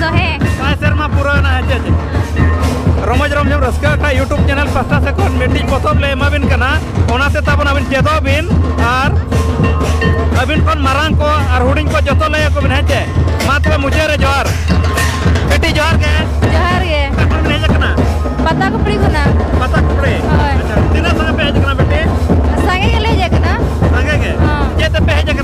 ᱥᱚ ᱦᱮᱸ ᱯᱟᱸᱪ ᱥᱮᱨᱢᱟ ᱯᱩᱨᱟᱹᱣ ᱮᱱᱟ ᱦᱮᱸ ᱪᱮᱫ ᱨᱚᱢᱚᱡᱽ ᱨᱚᱢᱡᱚᱢ ᱨᱟᱹᱥᱠᱟᱹ ᱟᱠᱷᱲᱟ ᱤᱭᱩᱴᱩᱵᱽ ᱪᱮᱱᱮᱞ ᱯᱟᱥᱴᱟ ᱥᱮᱫ ᱠᱷᱚᱱ ᱢᱤᱫᱴᱤᱡ ᱯᱚᱛᱚᱵ ᱞᱮ ᱮᱢᱟᱵᱤᱱ ᱠᱟᱱᱟ ᱚᱱᱟᱛᱮ ᱛᱟᱵᱚᱱ ᱟᱹᱵᱤᱱ ᱪᱮᱫᱚᱜ ᱵᱤᱱ ᱟᱨ ᱟᱹᱵᱤᱱ ᱠᱷᱚᱱ ᱢᱟᱨᱟᱝ ᱠᱚ ᱟᱨ ᱦᱩᱰᱤᱧ ᱠᱚ ᱡᱚᱛᱚ ᱞᱟᱹᱭ ᱟᱠᱚ ᱵᱤᱱ ᱦᱮᱸ ᱪᱮ ᱢᱟ ᱛᱚᱵᱮ ᱢᱩᱪᱟᱹᱫ ᱨᱮ ᱡᱚᱦᱟᱨ ᱵᱮᱴᱤ ᱡᱚᱦᱟᱨ ᱜᱮ ᱡᱚᱦᱟᱨ ᱜᱮ ᱚᱠᱟ ᱠᱷᱚᱱ ᱵᱤᱱ ᱦᱮᱡ ᱟᱠᱟᱱᱟ ᱯᱟᱛᱟ ᱠᱩᱯᱲᱤ ᱠᱷᱚᱱᱟᱜ ᱯᱟᱛᱟ ᱠᱩᱯᱲᱤ ᱦᱳᱭ ᱟᱪᱪᱷᱟ ᱛᱤᱱᱟᱹᱜ ᱥᱟᱸᱜᱮ ᱯᱮ ᱦᱮᱡ ᱟᱠᱟᱱᱟ ᱵᱮᱴᱤ ᱥᱟᱸᱜᱮ ᱜᱮᱞᱮ ᱦᱮᱡ ᱟᱠᱟᱱᱟ ᱥᱟᱸᱜᱮ ᱜᱮ ᱦᱚᱸ᱾ ᱪᱮᱫ ᱛᱮᱯᱮ ᱦᱮᱡ ᱟᱠᱟᱱᱟ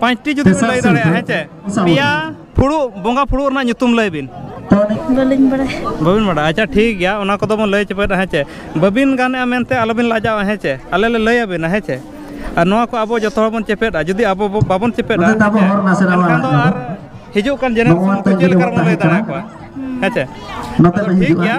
ᱯᱟᱸᱪᱴᱤ ᱡᱩᱫᱤ ᱵᱤᱱ ᱞᱟᱹᱭ ᱫᱟᱲᱮᱭᱟᱜᱼᱟ ᱦᱮᱸ ᱪᱮ ᱯᱮᱭᱟ ᱯᱷᱩᱲᱩᱜ ᱵᱚᱸᱜᱟ ᱯᱷᱩᱲᱩᱜ ᱨᱮᱱᱟᱜ ᱧᱩᱛᱩᱢ ᱞᱟᱹᱭ ᱵᱤᱱ ᱵᱟᱹᱞᱤᱧ ᱵᱟᱲᱟᱭᱟ ᱵᱟᱹᱵᱤᱱ ᱵᱟᱲᱟᱭᱟ ᱟᱪᱪᱷᱟ ᱴᱷᱤᱠ ᱜᱮᱭᱟ ᱚᱱᱟ ᱠᱚᱫᱚ ᱵᱚᱱ ᱞᱟᱹᱭ ᱪᱟᱵᱟᱭᱟ ᱦᱮᱸ ᱪᱮ ᱵᱟᱹᱵᱤᱱ ᱜᱟᱱᱮᱜᱼᱟ ᱢᱮᱱᱛᱮ ᱟᱞᱚᱵᱤᱱ ᱞᱟᱡᱟᱜᱼᱟ ᱦᱮᱸ ᱪᱮ ᱟᱞᱮ ᱞᱮ ᱞᱟᱹᱭ ᱟᱵᱤᱱᱟ ᱦᱮᱸ ᱪᱮ ᱟᱨ ᱱᱚᱣᱟ ᱠᱚ ᱟᱵᱚ ᱡᱚᱛᱚ ᱦᱚᱲ ᱵᱚᱱ ᱪᱮᱯᱮᱫᱟ ᱡᱩᱫᱤ ᱟᱵᱚ ᱵᱟᱵᱚᱱ ᱪᱮᱯᱮᱫᱟ ᱮᱱᱠᱷᱟᱱ ᱫᱚ ᱟᱨ ᱦᱤᱡᱩᱜ ᱠᱟᱱ ᱡᱮᱱᱟᱨᱮᱥᱚᱱ ᱠᱚ ᱪᱮᱫ ᱞᱮᱠᱟ ᱵᱚᱱ ᱞᱟᱹᱭ ᱫᱟᱲᱮᱭᱟᱠᱚᱣᱟ ᱦᱮᱸ ᱪᱮ ᱴᱷᱤᱠ ᱜᱮᱭᱟ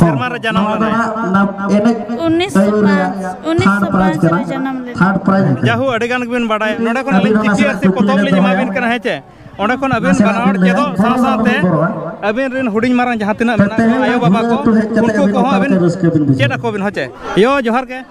ᱥᱮᱨᱢᱟ ᱨᱮ ᱡᱟᱱᱟᱢ ᱞᱮᱱᱟᱭ ᱩᱱᱤᱥ ᱩᱱᱤᱥ ᱯᱟᱸᱪ ᱨᱮ ᱡᱟᱱᱟᱢ ᱞᱮᱱᱟᱭ ᱡᱟᱦᱳ ᱟᱹᱰᱤ ᱜᱟᱱ ᱜᱮᱵᱤᱱ ᱵᱟᱰᱟᱭᱟ ᱱᱚᱰᱮ ᱠᱷᱚᱱ ᱟᱹᱞᱤᱧ ᱡᱤᱯᱤᱭᱟᱨ ᱥᱮ ᱯᱚᱛᱚᱵ ᱞᱤᱧ ᱮᱢᱟ ᱵᱤᱱ ᱠᱟᱱᱟ ᱦᱮᱸ ᱪᱮ ᱚᱸᱰᱮ ᱠᱷᱚᱱ ᱟᱹᱵᱤᱱ ᱵᱟᱱᱟ ᱦᱚᱲ ᱪᱮᱫᱚᱜ ᱥᱟᱶ ᱥᱟᱶᱛᱮ ᱟᱹᱵᱤᱱ ᱨᱮᱱ ᱦᱩᱰᱤᱧ ᱢᱟᱨᱟᱝ ᱡᱟᱦᱟᱸ ᱛᱤᱱᱟᱹᱜ ᱢᱮᱱᱟᱜ ᱠᱚᱣᱟ ᱟᱭᱳ ᱵᱟᱵᱟ ᱠᱚ ᱩᱱᱠᱩ ᱠᱚᱦᱚᱸ ᱟᱹᱵᱤᱱ ᱪᱮᱫ ᱟᱠᱚ ᱵᱤᱱ ᱦᱮᱸ ᱪᱮ ᱭᱳ ᱡᱚᱦᱟᱨ ᱜᱮ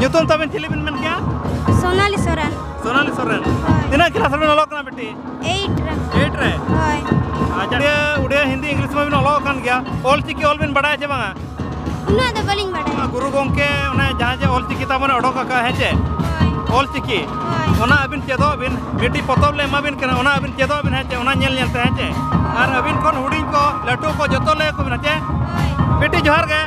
ᱧᱩᱛᱩᱢ ᱛᱟᱵᱮᱱ ᱪᱮᱞᱮ ᱵᱮᱱ ᱢᱮᱱ ᱠᱮᱭᱟ ᱥᱳᱱᱟᱞᱤ ᱥᱚᱨᱮᱱ ᱥᱳᱱᱟᱞᱤ ᱥᱚᱨᱮᱱ ᱛᱤᱱᱟᱹᱜ ᱠᱞᱟᱥ ᱨᱮᱵᱮᱱ ᱚᱞᱚᱜ ᱠᱟᱱᱟ ᱵᱤᱴᱤ 8 ᱨᱮ 8 ᱨᱮ ᱦᱳᱭ ᱟᱪᱪᱷᱟ ᱩᱰᱤᱭᱟ ᱦᱤᱱᱫᱤ ᱤᱝᱞᱤᱥ ᱢᱟ ᱵᱮᱱ ᱚᱞᱚᱜ ᱠᱟᱱ ᱜᱮᱭᱟ ᱚᱞ ᱪᱤᱠᱤ ᱚᱞ ᱵᱮᱱ ᱵᱟᱰᱟᱭᱟ ᱪᱮ ᱵᱟᱝᱟ ᱩᱱᱟᱹᱜ ᱫᱚ ᱵᱟᱹᱞᱤᱧ ᱵᱟᱰᱟᱭᱟ ᱜᱩᱨᱩ ᱜᱚᱝᱠᱮ ᱚᱱᱮ ᱡᱟᱦᱟᱸ ᱡᱮ ᱚᱞ ᱪᱤᱠᱤ ᱛᱟᱵᱚᱱ ᱚᱰᱚᱠ ᱟᱠᱟᱫ ᱦᱮᱸ ᱪᱮ ᱚᱞ ᱪᱤᱠᱤ ᱚᱱᱟ ᱟᱹᱵᱤᱱ ᱪᱮᱫᱚᱜ ᱵᱤᱱ ᱢᱤᱫᱴᱤ ᱯᱚᱛᱚᱵ ᱞᱮ ᱮᱢᱟᱵᱤᱱ ᱠᱟᱱᱟ ᱚᱱᱟ ᱟᱹᱵᱤᱱ ᱪᱮᱫᱚᱜ ᱵᱤᱱ ᱦᱮᱸ ᱪᱮ ᱚᱱᱟ ᱧᱮᱞ ᱧᱮᱞ ᱛᱮ ᱦᱮᱸ ᱪᱮ ᱟᱨ ᱟᱹᱵᱤᱱ ᱠᱷᱚᱱ ᱦᱩᱰᱤᱧ ᱠᱚ ᱞᱟᱹᱴᱩ ᱠᱚ ᱡᱚᱛᱚ ᱞᱟᱹᱭ ᱟᱠᱚ ᱵᱤᱱ ᱦᱮᱸ ᱪᱮ ᱵᱤᱴᱤ ᱡᱚᱦᱟᱨ ᱜᱮ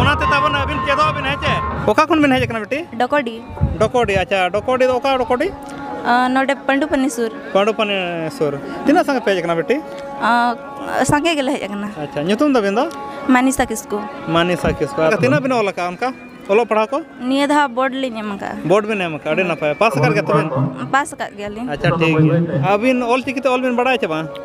ᱚᱱᱟᱛᱮ ᱛᱟᱵᱚᱱ ᱟᱹᱵᱤᱱ ᱪᱮᱫᱚᱜ ᱟᱹᱵᱤᱱ ᱦᱮᱸ ᱪᱮ ᱚᱠᱟ ᱠᱷᱚᱱ ᱵᱤᱱ ᱦᱮᱡ ᱟᱠᱟᱱᱟ ᱵᱤᱴᱤ ᱰᱚᱠᱚᱰᱤ ᱰᱚᱠᱚᱰᱤ ᱟᱪᱪᱷᱟ ᱰᱚᱠᱚᱰᱤ ᱫᱚ ᱚᱠᱟ ᱰᱚᱠᱚᱰᱤ ᱱᱚᱰᱮ ᱯᱟᱹᱰᱩᱯᱟᱹᱱᱤ ᱥᱩᱨ ᱯᱟᱹᱰᱩᱯᱟᱹᱱᱤ ᱥᱩᱨ ᱛᱤᱱᱟᱹᱜ ᱥᱟᱸᱜᱮ ᱯᱮ ᱦᱮᱡ ᱟᱠᱟᱱᱟ ᱵᱤᱴᱤ ᱥᱟᱸᱜᱮ ᱜᱮᱞᱮ ᱦᱮᱡ ᱟᱠᱟᱱᱟ ᱟᱪᱪᱷᱟ ᱧᱩᱛᱩᱢ ᱫᱚ ᱵᱤᱱ ᱫᱚ ᱢᱟᱱᱤᱥᱟ ᱠᱤᱥᱠᱩ ᱢᱟᱱᱤᱥᱟ ᱠᱤᱥᱠᱩ ᱛᱤᱱᱟᱹᱜ ᱵᱤᱱ ᱚᱞ ᱟᱠᱟᱫᱼᱟ ᱚᱱᱠᱟ ᱚᱞᱚᱜ ᱯᱟᱲᱦᱟᱣ ᱠᱚ ᱱᱤᱭᱟᱹ ᱫᱷᱟᱣ ᱵᱳᱨᱰ ᱞᱤᱧ ᱮᱢ ᱟᱠᱟᱫᱼᱟ ᱵᱳᱨᱰ ᱵᱤᱱ ᱮᱢ ᱟᱠᱟᱫᱼᱟ ᱟᱹᱰᱤ ᱱᱟᱯᱟᱭ ᱯᱟᱥ ᱟᱠᱟᱫ ᱜᱮᱭᱟ ᱛᱚᱵᱮ ᱯᱟᱥ ᱟᱠᱟᱫ ᱜᱮᱭᱟᱞᱤᱧ ᱟᱪᱪᱷᱟ ᱴᱷᱤᱠ ᱜᱮᱭᱟ ᱟᱹᱵᱤᱱ ᱚᱞ ᱪᱤᱠᱤ ᱛᱮ ᱚᱞ ᱵᱤᱱ ᱵᱟᱲᱟᱭᱟ ᱪᱮ ᱵᱟᱝ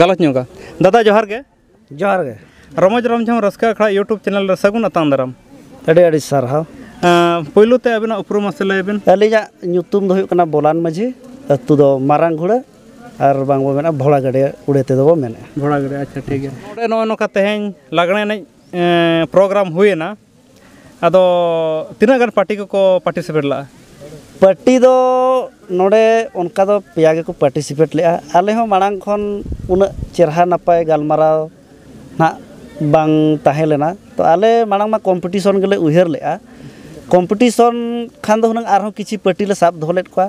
ᱜᱟᱞᱚᱪ ᱧᱚᱜᱟ ᱫᱟᱫᱟ ᱡᱚᱦᱟᱨ ᱜᱮ ᱡᱚᱦᱟᱨ ᱜᱮ ᱨᱚᱢᱚᱡᱽ ᱨᱚᱢᱡᱷᱚᱢ ᱨᱟᱹᱥᱠᱟᱹ ᱟᱠᱷᱲᱟ ᱤᱭᱩᱴᱩᱵᱽ ᱪᱮᱱᱮᱞ ᱨᱮ ᱥᱟᱹᱜᱩᱱ ᱟᱛᱟᱝ ᱫᱟᱨᱟᱢ ᱟᱹᱰᱤ ᱟᱹᱰᱤ ᱥᱟᱨᱦᱟᱣ ᱯᱳᱭᱞᱳ ᱛᱮ ᱟᱵᱤᱱᱟᱜ ᱩᱯᱨᱩᱢ ᱢᱟᱥᱮ ᱞᱟᱹᱭ ᱵᱤᱱ ᱟᱹᱞᱤᱧᱟᱜ ᱧᱩᱛᱩᱢ ᱫᱚ ᱦᱩᱭᱩᱜ ᱠᱟᱱᱟ ᱵᱚᱞᱟᱱ ᱢᱟᱹᱡᱷᱤ ᱟᱹᱛᱩ ᱫᱚ ᱢᱟᱨᱟᱝ ᱜᱷᱩᱲᱟᱹ ᱟᱨ ᱵᱟᱝ ᱵᱚ ᱢᱮᱱᱟ ᱵᱷᱚᱲᱟ ᱜᱟᱹᱰᱤ ᱩᱲᱮ ᱛᱮᱫᱚ ᱵᱚ ᱢᱮᱱᱮᱜᱼᱟ ᱵᱷᱚᱲᱟ ᱜᱟᱹᱰᱤ ᱟᱪᱪᱷᱟ ᱴᱷᱤᱠ ᱜᱮᱭᱟ ᱱᱚᱜᱼᱚᱭ ᱱᱚᱝᱠᱟ ᱛᱮᱦᱮᱧ ᱞᱟᱜᱽᱬᱮ ᱮᱱᱮᱡ ᱯᱨᱳᱜᱨᱟᱢ ᱦᱩᱭᱮᱱᱟ ᱟᱫᱚ ᱛᱤᱱᱟᱹᱜ ᱜᱟᱱ ᱯᱟᱨᱴᱤ ᱠᱚᱠᱚ ᱯᱟᱨᱴᱤᱥᱤᱯᱮᱴ ᱞᱮᱫᱼᱟ ᱯᱟᱨᱴᱤ ᱫᱚ ᱱᱚᱰᱮ ᱚᱱᱠᱟ ᱫᱚ ᱯᱮᱭᱟ ᱜᱮᱠᱚ ᱯᱟᱨᱴᱤᱥᱤᱯᱮᱴ ᱞᱮᱫᱼᱟ ᱟᱞᱮ ᱦᱚᱸ ᱢᱟᱲᱟᱝ ᱠᱷᱚᱱ ᱩᱱᱟᱹᱜ ᱪᱮᱦᱨᱟ ᱱᱟᱯᱟᱭ ᱜᱟᱞᱢᱟᱨᱟᱣ ᱦᱟᱸᱜ ᱵᱟᱝ ᱛᱟᱦᱮᱸ ᱞᱮᱱᱟ ᱛᱳ ᱟᱞᱮ ᱢᱟᱲᱟᱝ ᱢᱟ ᱠᱚᱢᱯᱤᱴᱤᱥᱚᱱ ᱜᱮᱞᱮ ᱩᱭᱦᱟᱹᱨ ᱞᱮᱫᱼᱟ ᱠᱚᱢᱯᱤᱴᱤᱥᱚᱱ ᱠᱷᱟᱱ ᱫᱚ ᱦᱩᱱᱟᱹᱝ ᱟᱨᱦᱚᱸ ᱠᱤᱪᱷᱩ ᱯᱟᱨᱴᱤ ᱞᱮ ᱥᱟᱵ ᱫᱚᱦᱚ ᱞᱮᱫ ᱠᱚᱣᱟ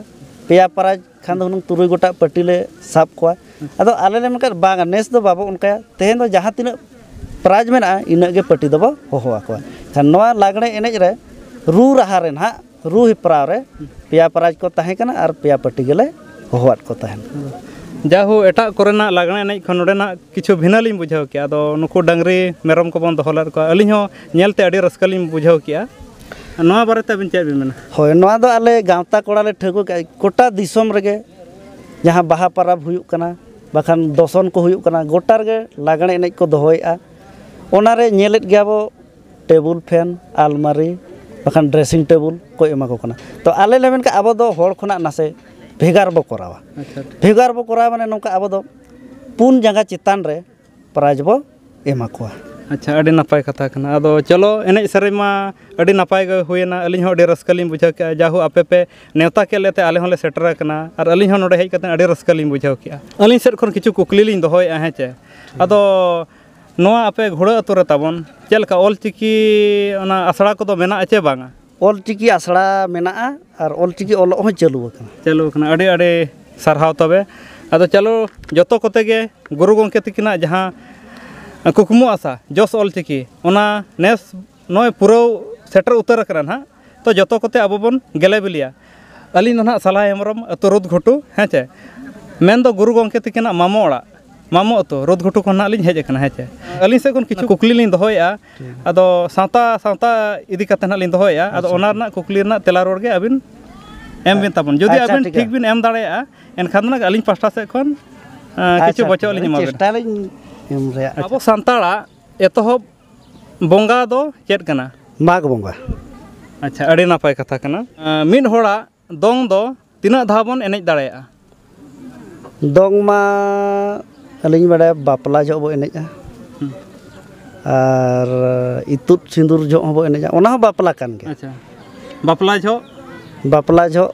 ᱯᱮᱭᱟ ᱯᱨᱟᱭᱤᱡᱽ ᱠᱷᱟᱱ ᱫᱚ ᱦᱩᱱᱟᱹᱝ ᱛᱩᱨᱩᱭ ᱜᱚᱴᱟᱜ ᱯᱟᱹᱴᱤ ᱞᱮ ᱥᱟᱵ ᱠᱚᱣᱟ ᱟᱫᱚ ᱟᱞᱮ ᱞᱮ ᱢᱮᱱᱠᱷᱟᱱ ᱵᱟᱝᱟ ᱱᱮᱥ ᱫᱚ ᱵᱟᱵᱚ ᱚᱱᱠᱟᱭᱟ ᱛᱮᱦᱮᱧ ᱫᱚ ᱡᱟᱦᱟᱸ ᱛᱤᱱᱟᱹᱜ ᱯᱨᱟᱭᱤᱡᱽ ᱢᱮᱱᱟᱜᱼᱟ ᱤᱱᱟᱹᱜ ᱜᱮ ᱯᱟᱹᱴᱤ ᱫᱚᱵᱚ ᱦᱚᱦᱚ ᱟᱠᱚᱣᱟ ᱠᱷᱟᱱ ᱱᱚᱣᱟ ᱞᱟᱜᱽᱬᱮ ᱮᱱᱮᱡ ᱨᱮ ᱨᱩ ᱨᱟᱦᱟ ᱨᱮ ᱱᱟᱦᱟᱜ ᱨᱩ ᱦᱮᱯᱨᱟᱣ ᱨᱮ ᱯᱮᱭᱟ ᱯᱨᱟᱭᱤᱡᱽ ᱠᱚ ᱛᱟᱦᱮᱸ ᱠᱟᱱᱟ ᱟᱨ ᱯᱮᱭᱟ ᱯᱟᱹᱴᱤ ᱜᱮᱞᱮ ᱦᱚᱦᱚᱣᱟᱫ ᱠᱚ ᱛᱟᱦᱮᱱ ᱡᱟᱦᱳ ᱮᱴᱟᱜ ᱠᱚᱨᱮᱱᱟᱜ ᱞᱟᱜᱽᱬᱮ ᱮᱱᱮᱡ ᱠᱷᱚᱱ ᱱᱚᱰᱮᱱᱟᱜ ᱠᱤᱪᱷᱩ ᱵᱷᱤᱱᱟᱹ ᱞᱤᱧ ᱵᱩᱡᱷᱟᱹᱣ ᱠᱮᱜᱼᱟ ᱟᱫᱚ ᱱᱩᱠᱩ ᱰᱟᱹᱝᱨᱤ ᱢᱮᱨᱚᱢ ᱠᱚᱵᱚᱱ ᱫᱚᱦᱚ ᱞᱮᱫ ᱠᱚᱣᱟ ᱟᱹᱞᱤᱧ ᱦᱚᱸ ᱧᱮᱞᱛᱮ ᱟᱹᱰᱤ ᱨᱟᱹᱥᱠᱟᱹ ᱞᱤᱧ ᱵᱩᱡᱷᱟᱹᱣ ᱠᱮᱜᱼᱟ ᱱᱚᱣᱟ ᱵᱟᱨᱮᱛᱮ ᱟᱹᱵᱤᱱ ᱪᱮᱫ ᱵᱤᱱ ᱢᱮᱱᱟ ᱦᱳᱭ ᱱᱚᱣᱟ ᱫᱚ ᱟᱞᱮ ᱜᱟᱶᱛᱟ ᱠᱚᱲᱟ ᱞᱮ ᱴᱷᱟᱹᱣᱠᱟᱹ ᱠᱮᱜᱼᱟ ᱜᱚᱴᱟ ᱫᱤᱥᱚᱢ ᱨᱮᱜᱮ ᱡᱟᱦᱟᱸ ᱵᱟᱦᱟ ᱯᱚᱨᱚᱵᱽ ᱦᱩᱭᱩᱜ ᱠᱟᱱᱟ ᱵᱟᱠᱷᱟᱱ ᱫᱚᱥᱚᱱ ᱠᱚ ᱦᱩᱭᱩᱜ ᱠᱟᱱᱟ ᱜᱚᱴᱟ ᱨᱮᱜᱮ ᱞᱟᱜᱽᱬᱮ ᱮᱱᱮᱡ ᱠᱚ ᱫᱚᱦᱚᱭᱮᱜᱼᱟ ᱚᱱᱟᱨᱮ ᱧᱮᱞᱮᱫ ᱜᱮᱭᱟ ᱵᱚᱱ ᱴᱮᱵᱤᱞ ᱯᱷᱮᱱ ᱟᱞᱢᱟᱨᱤ ᱵᱟᱠᱷᱟᱱ ᱰᱨᱮᱥᱤᱝ ᱴᱮᱵᱤᱞ ᱠᱚ ᱮᱢᱟ ᱠᱚ ᱠᱟᱱᱟ ᱛᱚ ᱟᱞᱮ ᱞᱮ ᱢᱮᱱ ᱠᱟᱜᱼᱟ ᱟᱵᱚ ᱫᱚ ᱦᱚᱲ ᱠᱷᱚᱱᱟᱜ ᱱᱟᱥᱮ ᱵᱷᱮᱜᱟᱨ ᱵᱚᱱ ᱠᱚᱨᱟᱣᱟ ᱵᱷᱮᱜᱟᱨ ᱵᱚᱱ ᱠᱚᱨᱟᱣᱟ ᱢᱟᱱᱮ ᱱᱚᱝᱠᱟ ᱟᱵᱚ ᱫᱚ ᱯᱩᱱ ᱡᱟᱸᱜᱟ ᱪᱮᱛᱟᱱ ᱨᱮ ᱯᱨᱟᱭᱤᱡᱽ ᱵᱚᱱ ᱮᱢᱟ ᱠᱚᱣᱟ ᱟᱪᱪᱷᱟ ᱟᱹᱰᱤ ᱱᱟᱯᱟᱭ ᱠᱟᱛᱷᱟ ᱠᱟᱱᱟ ᱟᱫᱚ ᱪᱚᱞᱚ ᱮᱱᱮᱡ ᱥᱮᱨᱮᱧ ᱢᱟ ᱟᱹᱰᱤ ᱱᱟᱯᱟᱭ ᱜᱮ ᱦᱩᱭᱱᱟ ᱟᱹᱞᱤᱧ ᱦᱚᱸ ᱟᱹᱰᱤ ᱨᱟᱹᱥᱠᱟᱹ ᱞᱤᱧ ᱵᱩᱡᱷᱟᱹᱣ ᱠᱮᱜᱼᱟ ᱡᱟ ᱦᱳᱠ ᱟᱯᱮ ᱯᱮ ᱱᱮᱶᱛᱟ ᱠᱮᱫ ᱞᱮᱛᱮ ᱟᱞᱮ ᱦᱚᱸᱞᱮ ᱥᱮᱴᱮᱨ ᱟᱠᱟᱱᱟ ᱟᱨ ᱟᱹᱞᱤᱧ ᱦᱚᱸ ᱱᱚᱰᱮ ᱦᱮᱡ ᱠᱟᱛᱮᱫ ᱟᱹᱰᱤ ᱨᱟᱹᱥᱠᱟᱹ ᱞᱤᱧ ᱵᱩᱡᱷᱟᱹᱣ ᱠᱮᱜᱼᱟ ᱟᱹᱞᱤᱧ ᱥᱮᱫ ᱠᱷᱚᱱ ᱠᱤᱪᱷᱩ ᱠᱩᱠᱞᱤ ᱞᱤᱧ ᱫᱚᱦᱚᱭᱮᱜᱼᱟ ᱦᱮᱸ ᱪᱮ ᱟᱫᱚ ᱱᱚᱣᱟ ᱟᱯᱮ ᱜᱷᱩᱲᱟᱹ ᱟᱛᱳ ᱨᱮ ᱛᱟᱵᱚᱱ ᱪᱮᱫ ᱞᱮᱠᱟ ᱚᱞ ᱪᱤᱠᱤ ᱚᱱᱟ ᱟᱥᱲᱟ ᱠᱚᱫᱚ ᱢᱮᱱᱟᱜᱼᱟ ᱪᱮ ᱵᱟᱝᱟ ᱚᱞᱪᱤᱠᱤ ᱟᱥᱲᱟ ᱢᱮᱱᱟᱜᱼᱟ ᱟᱨ ᱚᱞᱪᱤᱠᱤ ᱚᱞᱚᱜ ᱦᱚᱸ ᱪᱟᱹᱞᱩ ᱟᱠᱟᱱᱟ ᱪᱟᱹᱞᱩ ᱟᱠᱟᱱᱟ ᱟᱹᱰᱤ ᱟᱹᱰᱤ ᱥᱟᱨᱦᱟᱣ ᱛᱚᱵᱮ ᱟᱫᱚ ᱪᱚᱞᱚ ᱡᱚᱛᱚ ᱠᱚᱛᱮ ᱜᱮ ᱜᱩᱨᱩ ᱜᱚᱢᱠᱮ ᱛᱟᱹᱠᱤᱱᱟᱜ ᱡᱟᱦᱟᱸ ᱠᱩᱠᱢᱩ ᱟᱥᱟ ᱡᱚᱥ ᱚᱞᱪᱤᱠᱤ ᱚᱱᱟ ᱱᱮᱥ ᱱᱚᱜᱼᱚᱸᱭ ᱯᱩᱨᱟᱹᱣ ᱥᱮᱴᱮᱨ ᱩᱛᱟᱹᱨ ᱠᱟᱱᱟ ᱦᱟᱸᱜ ᱛᱚ ᱡᱚᱛᱚ ᱠᱚᱛᱮ ᱟᱵᱚ ᱵᱚᱱ ᱜᱮᱞᱮ ᱵᱤᱞᱮᱭᱟ ᱟᱹᱞᱤᱧ ᱫᱚ ᱱᱟᱦᱟᱜ ᱥᱟᱞᱟ ᱦᱮᱢᱵᱨᱚᱢ ᱟᱹᱛᱩ ᱨᱳᱫᱽ ᱜᱷᱩᱴᱩ ᱦᱮᱸ ᱪᱮ ᱢᱮᱱ ᱫᱚ ᱜᱩᱨᱩ ᱜᱚᱢᱠᱮ ᱛᱤᱠᱤᱱᱟᱜ ᱢᱟᱢᱚ ᱚᱲᱟᱜ ᱢᱟᱢᱚ ᱟᱹᱛᱩ ᱨᱳᱫᱽ ᱜᱷᱩᱴᱩ ᱠᱷᱚᱱ ᱱᱟᱦᱟᱜ ᱞᱤᱧ ᱦᱮᱡ ᱟᱠᱟᱱᱟ ᱦᱮᱸ ᱪᱮ ᱟᱹᱞᱤᱧ ᱥᱮᱫ ᱠᱷᱚᱱ ᱠᱤᱪᱷᱩ ᱠᱩᱠᱞᱤ ᱞᱤᱧ ᱫᱚᱦᱚᱭᱮᱜᱼᱟ ᱟᱫᱚ ᱥᱟᱶᱛᱟ ᱥᱟᱶᱛᱟ ᱤᱫᱤ ᱠᱟᱛᱮᱫ ᱱᱟᱦᱟᱜ ᱞᱤᱧ ᱫᱚᱦᱚᱭᱮᱜᱼᱟ ᱟᱫᱚ ᱚᱱᱟ ᱨᱮᱱᱟᱜ ᱠᱩᱠᱞᱤ ᱨᱮᱱᱟᱜ ᱛᱮᱞᱟ ᱨᱩᱣᱟᱹᱲ ᱜᱮ ᱟᱹᱵᱤᱱ ᱮᱢ ᱵᱤᱱ ᱛᱟᱵᱚᱱ ᱡᱩᱫᱤ ᱟᱪᱪᱷᱟ, ᱟᱹᱵᱤᱱ ᱴᱷᱤᱠ ᱴᱷᱤᱠ ᱜᱮᱭᱟ᱾ ᱵᱤᱱ ᱮᱢ ᱫᱟᱲᱮᱭᱟᱜᱼᱟ ᱮᱱᱠᱷᱟᱱ ᱫᱚ ᱱᱟᱦᱟᱜ ᱟᱹᱞᱤᱧ ᱯᱟᱥᱴᱟ ᱥᱮᱫ ᱠᱷᱚᱱ ᱟᱸ, ᱠᱤᱪᱷᱩ ᱵᱚᱪᱚᱜ ᱞᱤᱧ ᱮᱢᱟ ᱵᱤᱱᱟ ᱪᱮᱥᱴᱟᱭᱟᱞᱤᱧ ᱮᱢ ᱨᱮᱭᱟᱜ ᱟᱵᱚ ᱥᱟᱱᱛᱟᱲᱟᱜ ᱮᱛᱚᱦᱚᱵ ᱵᱚᱸᱜᱟ ᱫᱚ ᱪᱮᱫ ᱠᱟᱱᱟ ᱢᱟᱜᱽ ᱵᱚᱸᱜᱟ ᱟᱪᱪᱷᱟ ᱟᱹᱰᱤ ᱱᱟᱯᱟᱭ ᱠᱟᱛᱷᱟ ᱠᱟᱱᱟ ᱢᱤᱫ ᱦᱚᱲᱟᱜ ᱫᱚᱝ ᱫᱚ ᱛᱤᱱᱟᱹᱜ ᱫᱷᱟᱣ ᱵᱚᱱ ᱮᱱᱮᱡ ᱫᱟᱲᱮᱭᱟᱜᱼᱟ ᱫᱚᱝ ᱢᱟ ᱟᱹᱞᱤᱧ ᱵᱟᱲᱟᱭᱟ ᱵᱟᱯᱞᱟ ᱡᱚᱦᱚᱜ ᱵᱚᱱ ᱮᱱᱮᱡᱼᱟ ᱟᱨ ᱤᱛᱩᱫ ᱥᱤᱸᱫᱩᱨ ᱡᱚᱦᱚᱜ ᱦᱚᱸᱵᱚᱱ ᱮᱱᱮᱡᱟ ᱚᱱᱟ ᱦᱚᱸ ᱵᱟᱯᱞᱟ ᱠᱟᱱ ᱜᱮᱭᱟ ᱟᱪᱪᱷᱟ ᱵᱟᱯᱞᱟ ᱡᱚᱦᱚᱜ ᱵᱟᱯᱞᱟ ᱡᱚᱦᱚᱜ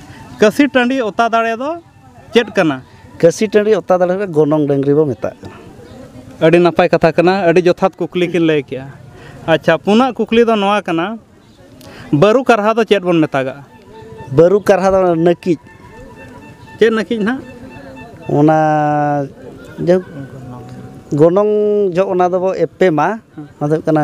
ᱠᱟᱹᱥᱤ ᱴᱟᱺᱰᱤ ᱚᱛᱟ ᱫᱟᱲᱮ ᱫᱚ ᱪᱮᱫ ᱠᱟᱱᱟ ᱠᱟᱹᱥᱤ ᱴᱟᱺᱰᱤ ᱚᱛᱟ ᱫᱟᱲᱮ ᱫᱚ ᱜᱚᱱᱚᱝ ᱰᱟᱹᱝᱨᱤ ᱵᱚ ᱢᱮᱛᱟᱜ ᱠᱟᱱᱟ ᱟᱹᱰᱤ ᱱᱟᱯᱟᱭ ᱠᱟᱛᱷᱟ ᱠᱟᱱᱟ ᱟᱹᱰᱤ ᱡᱚᱛᱷᱟᱛ ᱠᱩᱠᱞᱤ ᱠᱤᱱ ᱞᱟᱹᱭ ᱠᱮᱜᱼᱟ ᱟᱪᱪᱷᱟ ᱯᱩᱱᱟᱜ ᱠᱩᱠᱞᱤ ᱫᱚ ᱱᱚᱣᱟ ᱠᱟᱱᱟ ᱵᱟᱹᱨᱩ ᱠᱟᱨᱦᱟ ᱫᱚ ᱪᱮᱫ ᱵᱚᱱ ᱢᱮᱛᱟᱜᱟᱜᱼᱟ ᱵᱟᱹᱨᱩ ᱠᱟᱨᱦᱟ ᱫᱚ ᱱᱟᱹᱠᱤᱡ ᱪᱮᱫ ᱱᱟᱹᱠᱤᱡ ᱱᱟᱜ ᱚᱱᱟ ᱡᱟᱭᱦᱳᱠ ᱜᱚᱱᱚᱝ ᱡᱚᱜ ᱚᱱᱟ ᱫᱚᱵᱚ ᱮᱯᱮᱢᱟ ᱚᱱᱟ ᱫᱚ ᱦᱩᱭᱩᱜ ᱠᱟᱱᱟ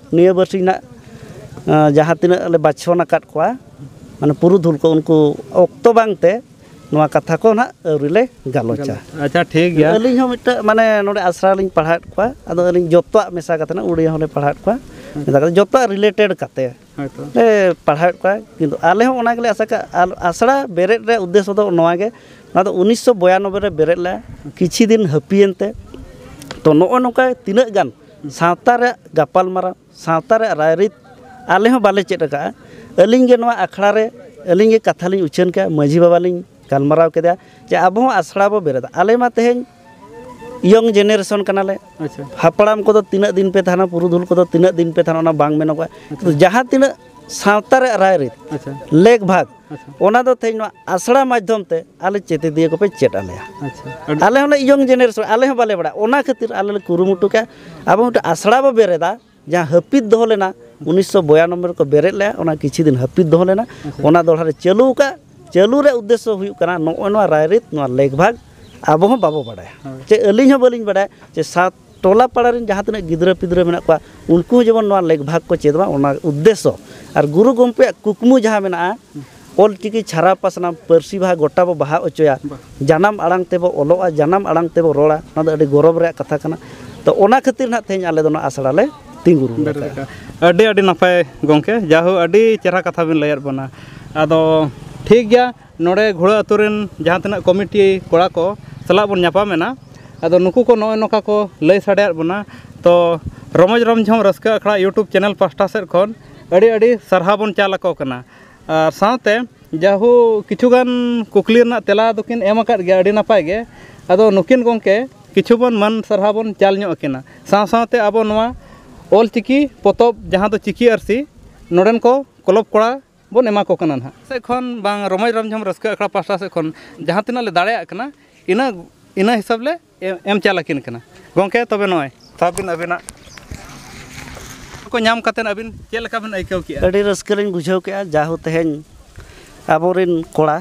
ᱱᱤᱭᱟᱹ ᱵᱟᱨᱥᱤ ᱱᱟᱜ ᱡᱟᱦᱟᱸ ᱛᱤᱱᱟᱹᱜ ᱞᱮ ᱵᱟᱪᱷᱚᱱ ᱟᱠᱟᱫ ᱠᱚᱣᱟ ᱢᱟᱱᱮ ᱯᱩᱨᱩᱫᱷᱩᱞ ᱠᱚ ᱩᱱᱠᱩ ᱚᱠᱛᱚ ᱵᱟᱝᱛᱮ ᱱᱚᱣᱟ ᱠᱟᱛᱷᱟ ᱠᱚ ᱱᱟᱜ ᱟᱹᱣᱨᱤ ᱞᱮ ᱜᱟᱞᱚᱪᱟ ᱟᱪᱪᱷᱟ ᱴᱷᱤᱠ ᱜᱮᱭᱟ ᱟᱹᱞᱤᱧ ᱦᱚᱸ ᱢᱤᱫᱴᱟᱝ ᱢᱟᱱᱮ ᱱᱚᱰᱮ ᱟᱥᱲᱟ ᱨᱮᱞᱤᱧ ᱯᱟᱲᱦᱟᱣᱮᱫ ᱠᱚᱣᱟ ᱟᱫᱚ ᱟᱹᱞᱤᱧ ᱡᱚᱛᱚᱣᱟᱜ ᱢᱮᱥᱟ ᱠᱟᱛᱮ ᱱᱟᱜ ᱩᱲᱤᱭᱟ ᱦᱚᱸᱞᱮ ᱯᱟᱲᱦᱟᱣᱮᱫ ᱠᱚᱣᱟ ᱢᱮᱥᱟ ᱠᱟᱛᱮ ᱡᱚᱛᱚᱣᱟᱜ ᱨᱤᱞᱮᱴᱮᱰ ᱠᱟᱛᱮ ᱦᱳᱭᱛᱚ ᱞᱮ ᱯᱟᱲᱦᱟᱣᱮᱫ ᱠᱚᱣᱟ ᱠᱤᱱᱛᱩ ᱟᱞᱮ ᱦᱚᱸ ᱚᱱᱟ ᱜᱮᱞᱮ ᱟᱥᱟ ᱠᱟᱜᱼᱟ ᱟᱨ ᱟᱥᱲᱟ ᱵᱮᱨᱮᱫ ᱨᱮᱭᱟᱜ ᱩᱫᱽᱫᱮᱥᱥᱚ ᱫᱚ ᱱᱚᱣᱟ ᱜᱮ ᱱᱚᱣᱟ ᱫᱚ ᱩᱱᱤᱥᱥᱚ ᱵᱤᱭᱟᱱᱚᱵᱵᱳᱭ ᱨᱮ ᱵᱮᱨᱮᱫ ᱞᱮᱱᱟ ᱠᱤᱪᱷᱩ ᱫᱤᱱ ᱦᱟᱹᱯᱤᱭᱮᱱ ᱛᱮ ᱛᱚ ᱱᱚᱜᱼᱚᱸᱭ ᱱᱚᱝᱠᱟ ᱛᱤᱱᱟᱹᱜ ᱜᱟᱱ ᱥᱟᱶᱛᱟ ᱨᱮᱭᱟᱜ ᱜᱟᱯᱟᱞ ᱢᱟᱨᱟᱣ ᱥᱟᱶᱛᱟ ᱨᱮᱭᱟᱜ ᱨᱟᱭᱨᱤᱛ ᱟᱞᱮ ᱦᱚᱸ ᱵᱟᱞᱮ ᱪᱮᱫ ᱟᱠᱟᱫᱼᱟ ᱟᱹᱞᱤᱧ ᱜᱮ ᱱᱚᱣᱟ ᱟᱠᱷᱲᱟ ᱨᱮ ᱟᱹᱞᱤᱧ ᱜᱮ ᱠᱟᱛᱷᱟ ᱞᱤᱧ ᱩᱪᱷᱟᱹᱱ ᱠᱮᱫᱼᱟ ᱢᱟᱹᱡᱷᱤ ᱵᱟᱵᱟ ᱞᱤᱧ ᱜᱟᱞᱢᱟᱨᱟᱣ ᱠᱮᱫᱮᱭᱟ ᱡᱮ ᱟᱵᱚ ᱦᱚᱸ ᱟᱥᱲᱟ ᱵᱚᱱ ᱵᱮᱨᱮᱫᱟ ᱟᱞᱮ ᱢᱟ ᱛᱮᱦᱮᱧ ᱤᱭᱚᱝ ᱡᱮᱱᱟᱨᱮᱥᱚᱱ ᱠᱟᱱᱟᱞᱮ ᱦᱟᱯᱲᱟᱢ ᱠᱚᱫᱚ ᱛᱤᱱᱟᱹᱜ ᱫᱤᱱ ᱯᱮ ᱛᱟᱦᱮᱱᱟ ᱯᱩᱨᱩᱫᱷᱩᱞ ᱠᱚᱫᱚ ᱛᱤᱱᱟᱹᱜ ᱫᱤᱱ ᱯᱮ ᱛᱟᱦᱮᱱᱟ ᱚᱱᱟ ᱵᱟᱝ ᱢᱮᱱᱚᱜᱚᱜᱼᱟ ᱡᱟᱦᱟᱸ ᱛᱤᱱᱟᱹᱜ ᱥᱟᱶᱛᱟ ᱨᱮᱭᱟᱜ ᱨᱟᱭᱨᱤᱛ ᱞᱮᱠ ᱵᱷᱟᱜᱽ ᱚᱱᱟ ᱫᱚ ᱛᱮᱦᱮᱧ ᱱᱚᱣᱟ ᱟᱥᱲᱟ ᱢᱟᱫᱽᱫᱷᱚᱢ ᱛᱮ ᱟᱞᱮ ᱪᱮᱛᱮᱫᱤᱭᱟᱹ ᱠᱚᱯᱮ ᱪᱮᱫ ᱟᱞᱮᱭᱟ ᱟᱞᱮ ᱦᱚᱸᱞᱮ ᱤᱭᱚᱝ ᱡᱮᱱᱟᱨᱮᱥᱚᱱ ᱟᱞᱮ ᱦᱚᱸ ᱵᱟᱞᱮ ᱵᱟᱲᱟᱭᱟ ᱚᱱᱟ ᱠᱷᱟᱹᱛᱤᱨ ᱟᱞᱮ ᱞᱮ ᱠᱩᱨᱩᱢᱩᱴᱩ ᱠᱮᱜᱼᱟ ᱟᱵᱚ ᱢᱤᱫᱴᱮᱱ ᱟᱥᱲᱟ ᱵᱚᱱ ᱵᱮᱨᱮᱫᱟ ᱡᱟᱦᱟᱸ ᱦᱟᱹᱯᱤᱫ ᱫᱚᱦᱚ ᱞᱮᱱᱟ ᱩᱱᱤᱥᱥᱚ ᱵᱤᱭᱟᱱᱚᱵᱵᱳᱭ ᱨᱮᱠᱚ ᱵᱮᱨᱮᱫ ᱞᱮᱜᱼᱟ ᱚᱱᱟ ᱠᱤᱪᱷᱩ ᱫᱤᱱ ᱦᱟᱹᱯᱤᱫ ᱫᱚᱦᱚ ᱞᱮᱱᱟ ᱚᱱᱟ ᱫᱚᱦᱲᱟ ᱞᱮ ᱪᱟᱹᱞᱩ ᱟᱠᱟᱫᱼᱟ ᱪᱟᱹᱞᱩ ᱨᱮᱭᱟᱜ ᱩᱫᱽᱫᱮᱥᱥᱚ ᱦᱩᱭᱩᱜ ᱠᱟᱱᱟ ᱱᱚᱜᱼᱚᱭ ᱱᱚᱣᱟ ᱨᱟᱭᱨᱤᱛ ᱱᱚᱣᱟ ᱞᱮᱠ ᱵᱷᱟᱜᱽ ᱟᱵᱚ ᱦᱚᱸ ᱵᱟᱵᱚ ᱵᱟᱲᱟᱭᱟ ᱪᱮ ᱟᱹᱞᱤᱧ ᱦᱚᱸ ᱵᱟᱹᱞᱤᱧ ᱵᱟᱲᱟᱭᱟ ᱪᱮ ᱥᱟᱶ ᱴᱚᱞᱟ ᱯᱟᱲᱟ ᱨᱮᱱ ᱡᱟᱦᱟᱸ ᱛᱤᱱᱟᱹᱜ ᱜᱤᱫᱽᱨᱟᱹ ᱯᱤᱫᱽᱨᱟᱹ ᱢᱮᱱᱟᱜ ᱠᱚᱣᱟ ᱩᱱᱠᱩ ᱦᱚᱸ ᱡᱮᱢᱚᱱ ᱱᱚᱣᱟ ᱞᱮᱠ ᱵᱷᱟᱜᱽ ᱠᱚ ᱪᱮᱫ ᱢᱟ ᱚᱱᱟ ᱩᱫᱽᱫᱮᱥᱥᱚ ᱟᱨ ᱜᱩᱨᱩ ᱜᱚᱢᱠᱮᱭᱟᱜ ᱠᱩᱠᱢᱩ ᱡᱟᱦᱟᱸ ᱢᱮᱱᱟᱜᱼᱟ ᱚᱞ ᱪᱤᱠᱤ ᱪᱷᱟᱨᱟᱣ ᱯᱟᱥᱱᱟᱣ ᱯᱟᱹᱨᱥᱤ ᱵᱟᱦᱟ ᱜᱚᱴᱟ ᱵᱚ ᱵᱟᱦᱟ ᱦᱚᱪᱚᱭᱟ ᱡᱟᱱᱟᱢ ᱟᱲᱟᱝ ᱛᱮᱵᱚ ᱚᱞᱚᱜᱼᱟ ᱡᱟᱱᱟᱢ ᱟᱲᱟᱝ ᱛᱮᱵᱚ ᱨᱚᱲᱟ ᱚᱱᱟ ᱫᱚ ᱟᱹᱰᱤ ᱜᱚᱨᱚᱵᱽ ᱨᱮᱭᱟᱜ ᱠᱟᱛᱷᱟ ᱠᱟᱱᱟ ᱛᱚ ᱚᱱᱟ ᱠᱷᱟᱹᱛᱤᱨ ᱱᱟᱦᱟᱜ ᱛᱮᱦᱮᱧ ᱟᱞᱮ ᱫᱚ ᱱᱚᱣᱟ ᱟᱥᱲᱟ ᱞᱮ ᱛᱤᱸᱜᱩ ᱨᱩᱣᱟᱹᱲ ᱟᱠᱟᱫᱼᱟ ᱟᱹᱰᱤ ᱟᱹᱰᱤ ᱱᱟᱯᱟᱭ ᱜᱚᱢᱠᱮ ᱡᱟᱭᱦᱳᱠ ᱟᱹᱰᱤ ᱪᱮᱦᱨᱟ ᱠᱟᱛᱷᱟ ᱵᱤᱱ ᱞᱟᱹᱭᱟᱫ ᱵᱚᱱᱟ ᱟᱫᱚ ᱴᱷᱤᱠ ᱜᱮᱭᱟ ᱱᱚᱰᱮ ᱜᱷᱳᱲᱟ ᱟᱹᱛᱩ ᱨᱮᱱ ᱡᱟᱦᱟᱸ ᱛᱤᱱᱟᱹᱜ ᱠᱚᱢᱤᱴᱤ ᱠᱚᱲᱟ ᱠᱚ ᱥᱟᱞᱟᱜ ᱵᱚᱱ ᱧᱟᱯᱟᱢ ᱮᱱᱟ ᱟᱫᱚ ᱱᱩᱠᱩ ᱠᱚ ᱱᱚᱜᱼᱚᱸᱭ ᱱᱚᱝᱠᱟ ᱠᱚ ᱞᱟᱹᱭ ᱥᱟᱰᱮ ᱟᱫ ᱵᱚᱱᱟ ᱛᱚ ᱨᱚᱢᱚᱡᱽ ᱨᱚᱢᱡᱷᱚᱱ ᱨᱟᱹᱥᱠᱟᱹ ᱟᱠᱷᱲᱟ ᱤᱭᱩᱴᱩᱵᱽ ᱪᱮᱱᱮᱞ ᱯᱟᱥᱴᱟ ᱥᱮᱫ ᱠᱷᱚᱱ ᱟᱹᱰᱤ ᱟᱹᱰᱤ ᱥᱟᱨᱦᱟᱣ ᱵᱚᱱ ᱪᱟᱞ ᱟᱠᱚ ᱠᱟᱱᱟ ᱟᱨ ᱥᱟᱶᱛᱮ ᱡᱟᱦᱳ ᱠᱤᱪᱷᱩ ᱜᱟᱱ ᱠᱩᱠᱞᱤ ᱨᱮᱱᱟᱜ ᱛᱮᱞᱟ ᱫᱚᱠᱤᱱ ᱮᱢ ᱟᱠᱟᱫ ᱜᱮᱭᱟ ᱟᱹᱰᱤ ᱱᱟᱯᱟᱭ ᱜᱮ ᱟᱫᱚ ᱱᱩᱠᱤᱱ ᱜᱚᱢᱠᱮ ᱠᱤᱪᱷᱩ ᱵᱚᱱ ᱢᱟᱹᱱ ᱥᱟᱨᱦᱟᱣ ᱵᱚᱱ ᱪᱟᱞ ᱧᱚᱜ ᱟᱹᱠᱤᱱᱟ ᱥᱟᱶ ᱥᱟᱶᱛᱮ ᱟᱵᱚ ᱱᱚᱣᱟ ᱚᱞ ᱪᱤᱠᱤ ᱯᱚᱛᱚᱵ ᱡᱟᱦᱟᱸ ᱫᱚ ᱪᱤᱠᱤ ᱟᱹᱨᱥᱤ ᱱᱚᱰᱮᱱ ᱠᱚ ᱠᱞᱚᱵᱽ ᱠᱚᱲᱟ ᱵᱚᱱ ᱮᱢᱟ ᱠᱚ ᱠᱟᱱᱟ ᱱᱟᱦᱟᱜ ᱥᱮᱫ ᱠᱷᱚᱱ ᱵᱟᱝ ᱨᱚᱢᱚᱡᱽ ᱨᱚᱢᱡᱷᱚᱢ ᱨᱟᱹᱥᱠᱟᱹ ᱟᱠᱷᱲᱟ ᱯᱟᱥᱴᱟ ᱥᱮᱫ ᱠᱷᱚᱱ ᱡᱟᱦᱟᱸ ᱛᱤᱱᱟᱹᱜ ᱞᱮ ᱫᱟᱲᱮᱭᱟᱜ ᱠᱟᱱᱟ ᱤᱱᱟᱹ ᱤᱱᱟᱹ ᱦᱤᱥᱟᱹᱵᱽ ᱞᱮ ᱮᱢ ᱪᱟᱞ ᱟᱹᱠᱤᱱ ᱠᱟᱱᱟ ᱜᱚᱢᱠᱮ ᱛᱚᱵᱮ ᱱᱚᱜᱼᱚᱭ ᱥᱟᱵ ᱵᱤᱱ ᱟᱹᱵᱤᱱᱟᱜ ᱠᱚ ᱧᱟᱢ ᱠᱟᱛᱮᱫ ᱟᱹᱵᱤᱱ ᱪᱮᱫ ᱞᱮᱠᱟ ᱵᱤᱱ ᱟᱹᱭᱠᱟᱹᱣ ᱠᱮᱜᱼᱟ ᱟᱹᱰᱤ ᱨᱟᱹᱥᱠᱟᱹ ᱞᱤᱧ ᱵᱩᱡᱷᱟᱹᱣ ᱠᱮᱜᱼᱟ ᱡᱟᱦᱳ ᱛᱮᱦᱮᱧ ᱟᱵᱚ ᱨᱮᱱ ᱠᱚᱲᱟ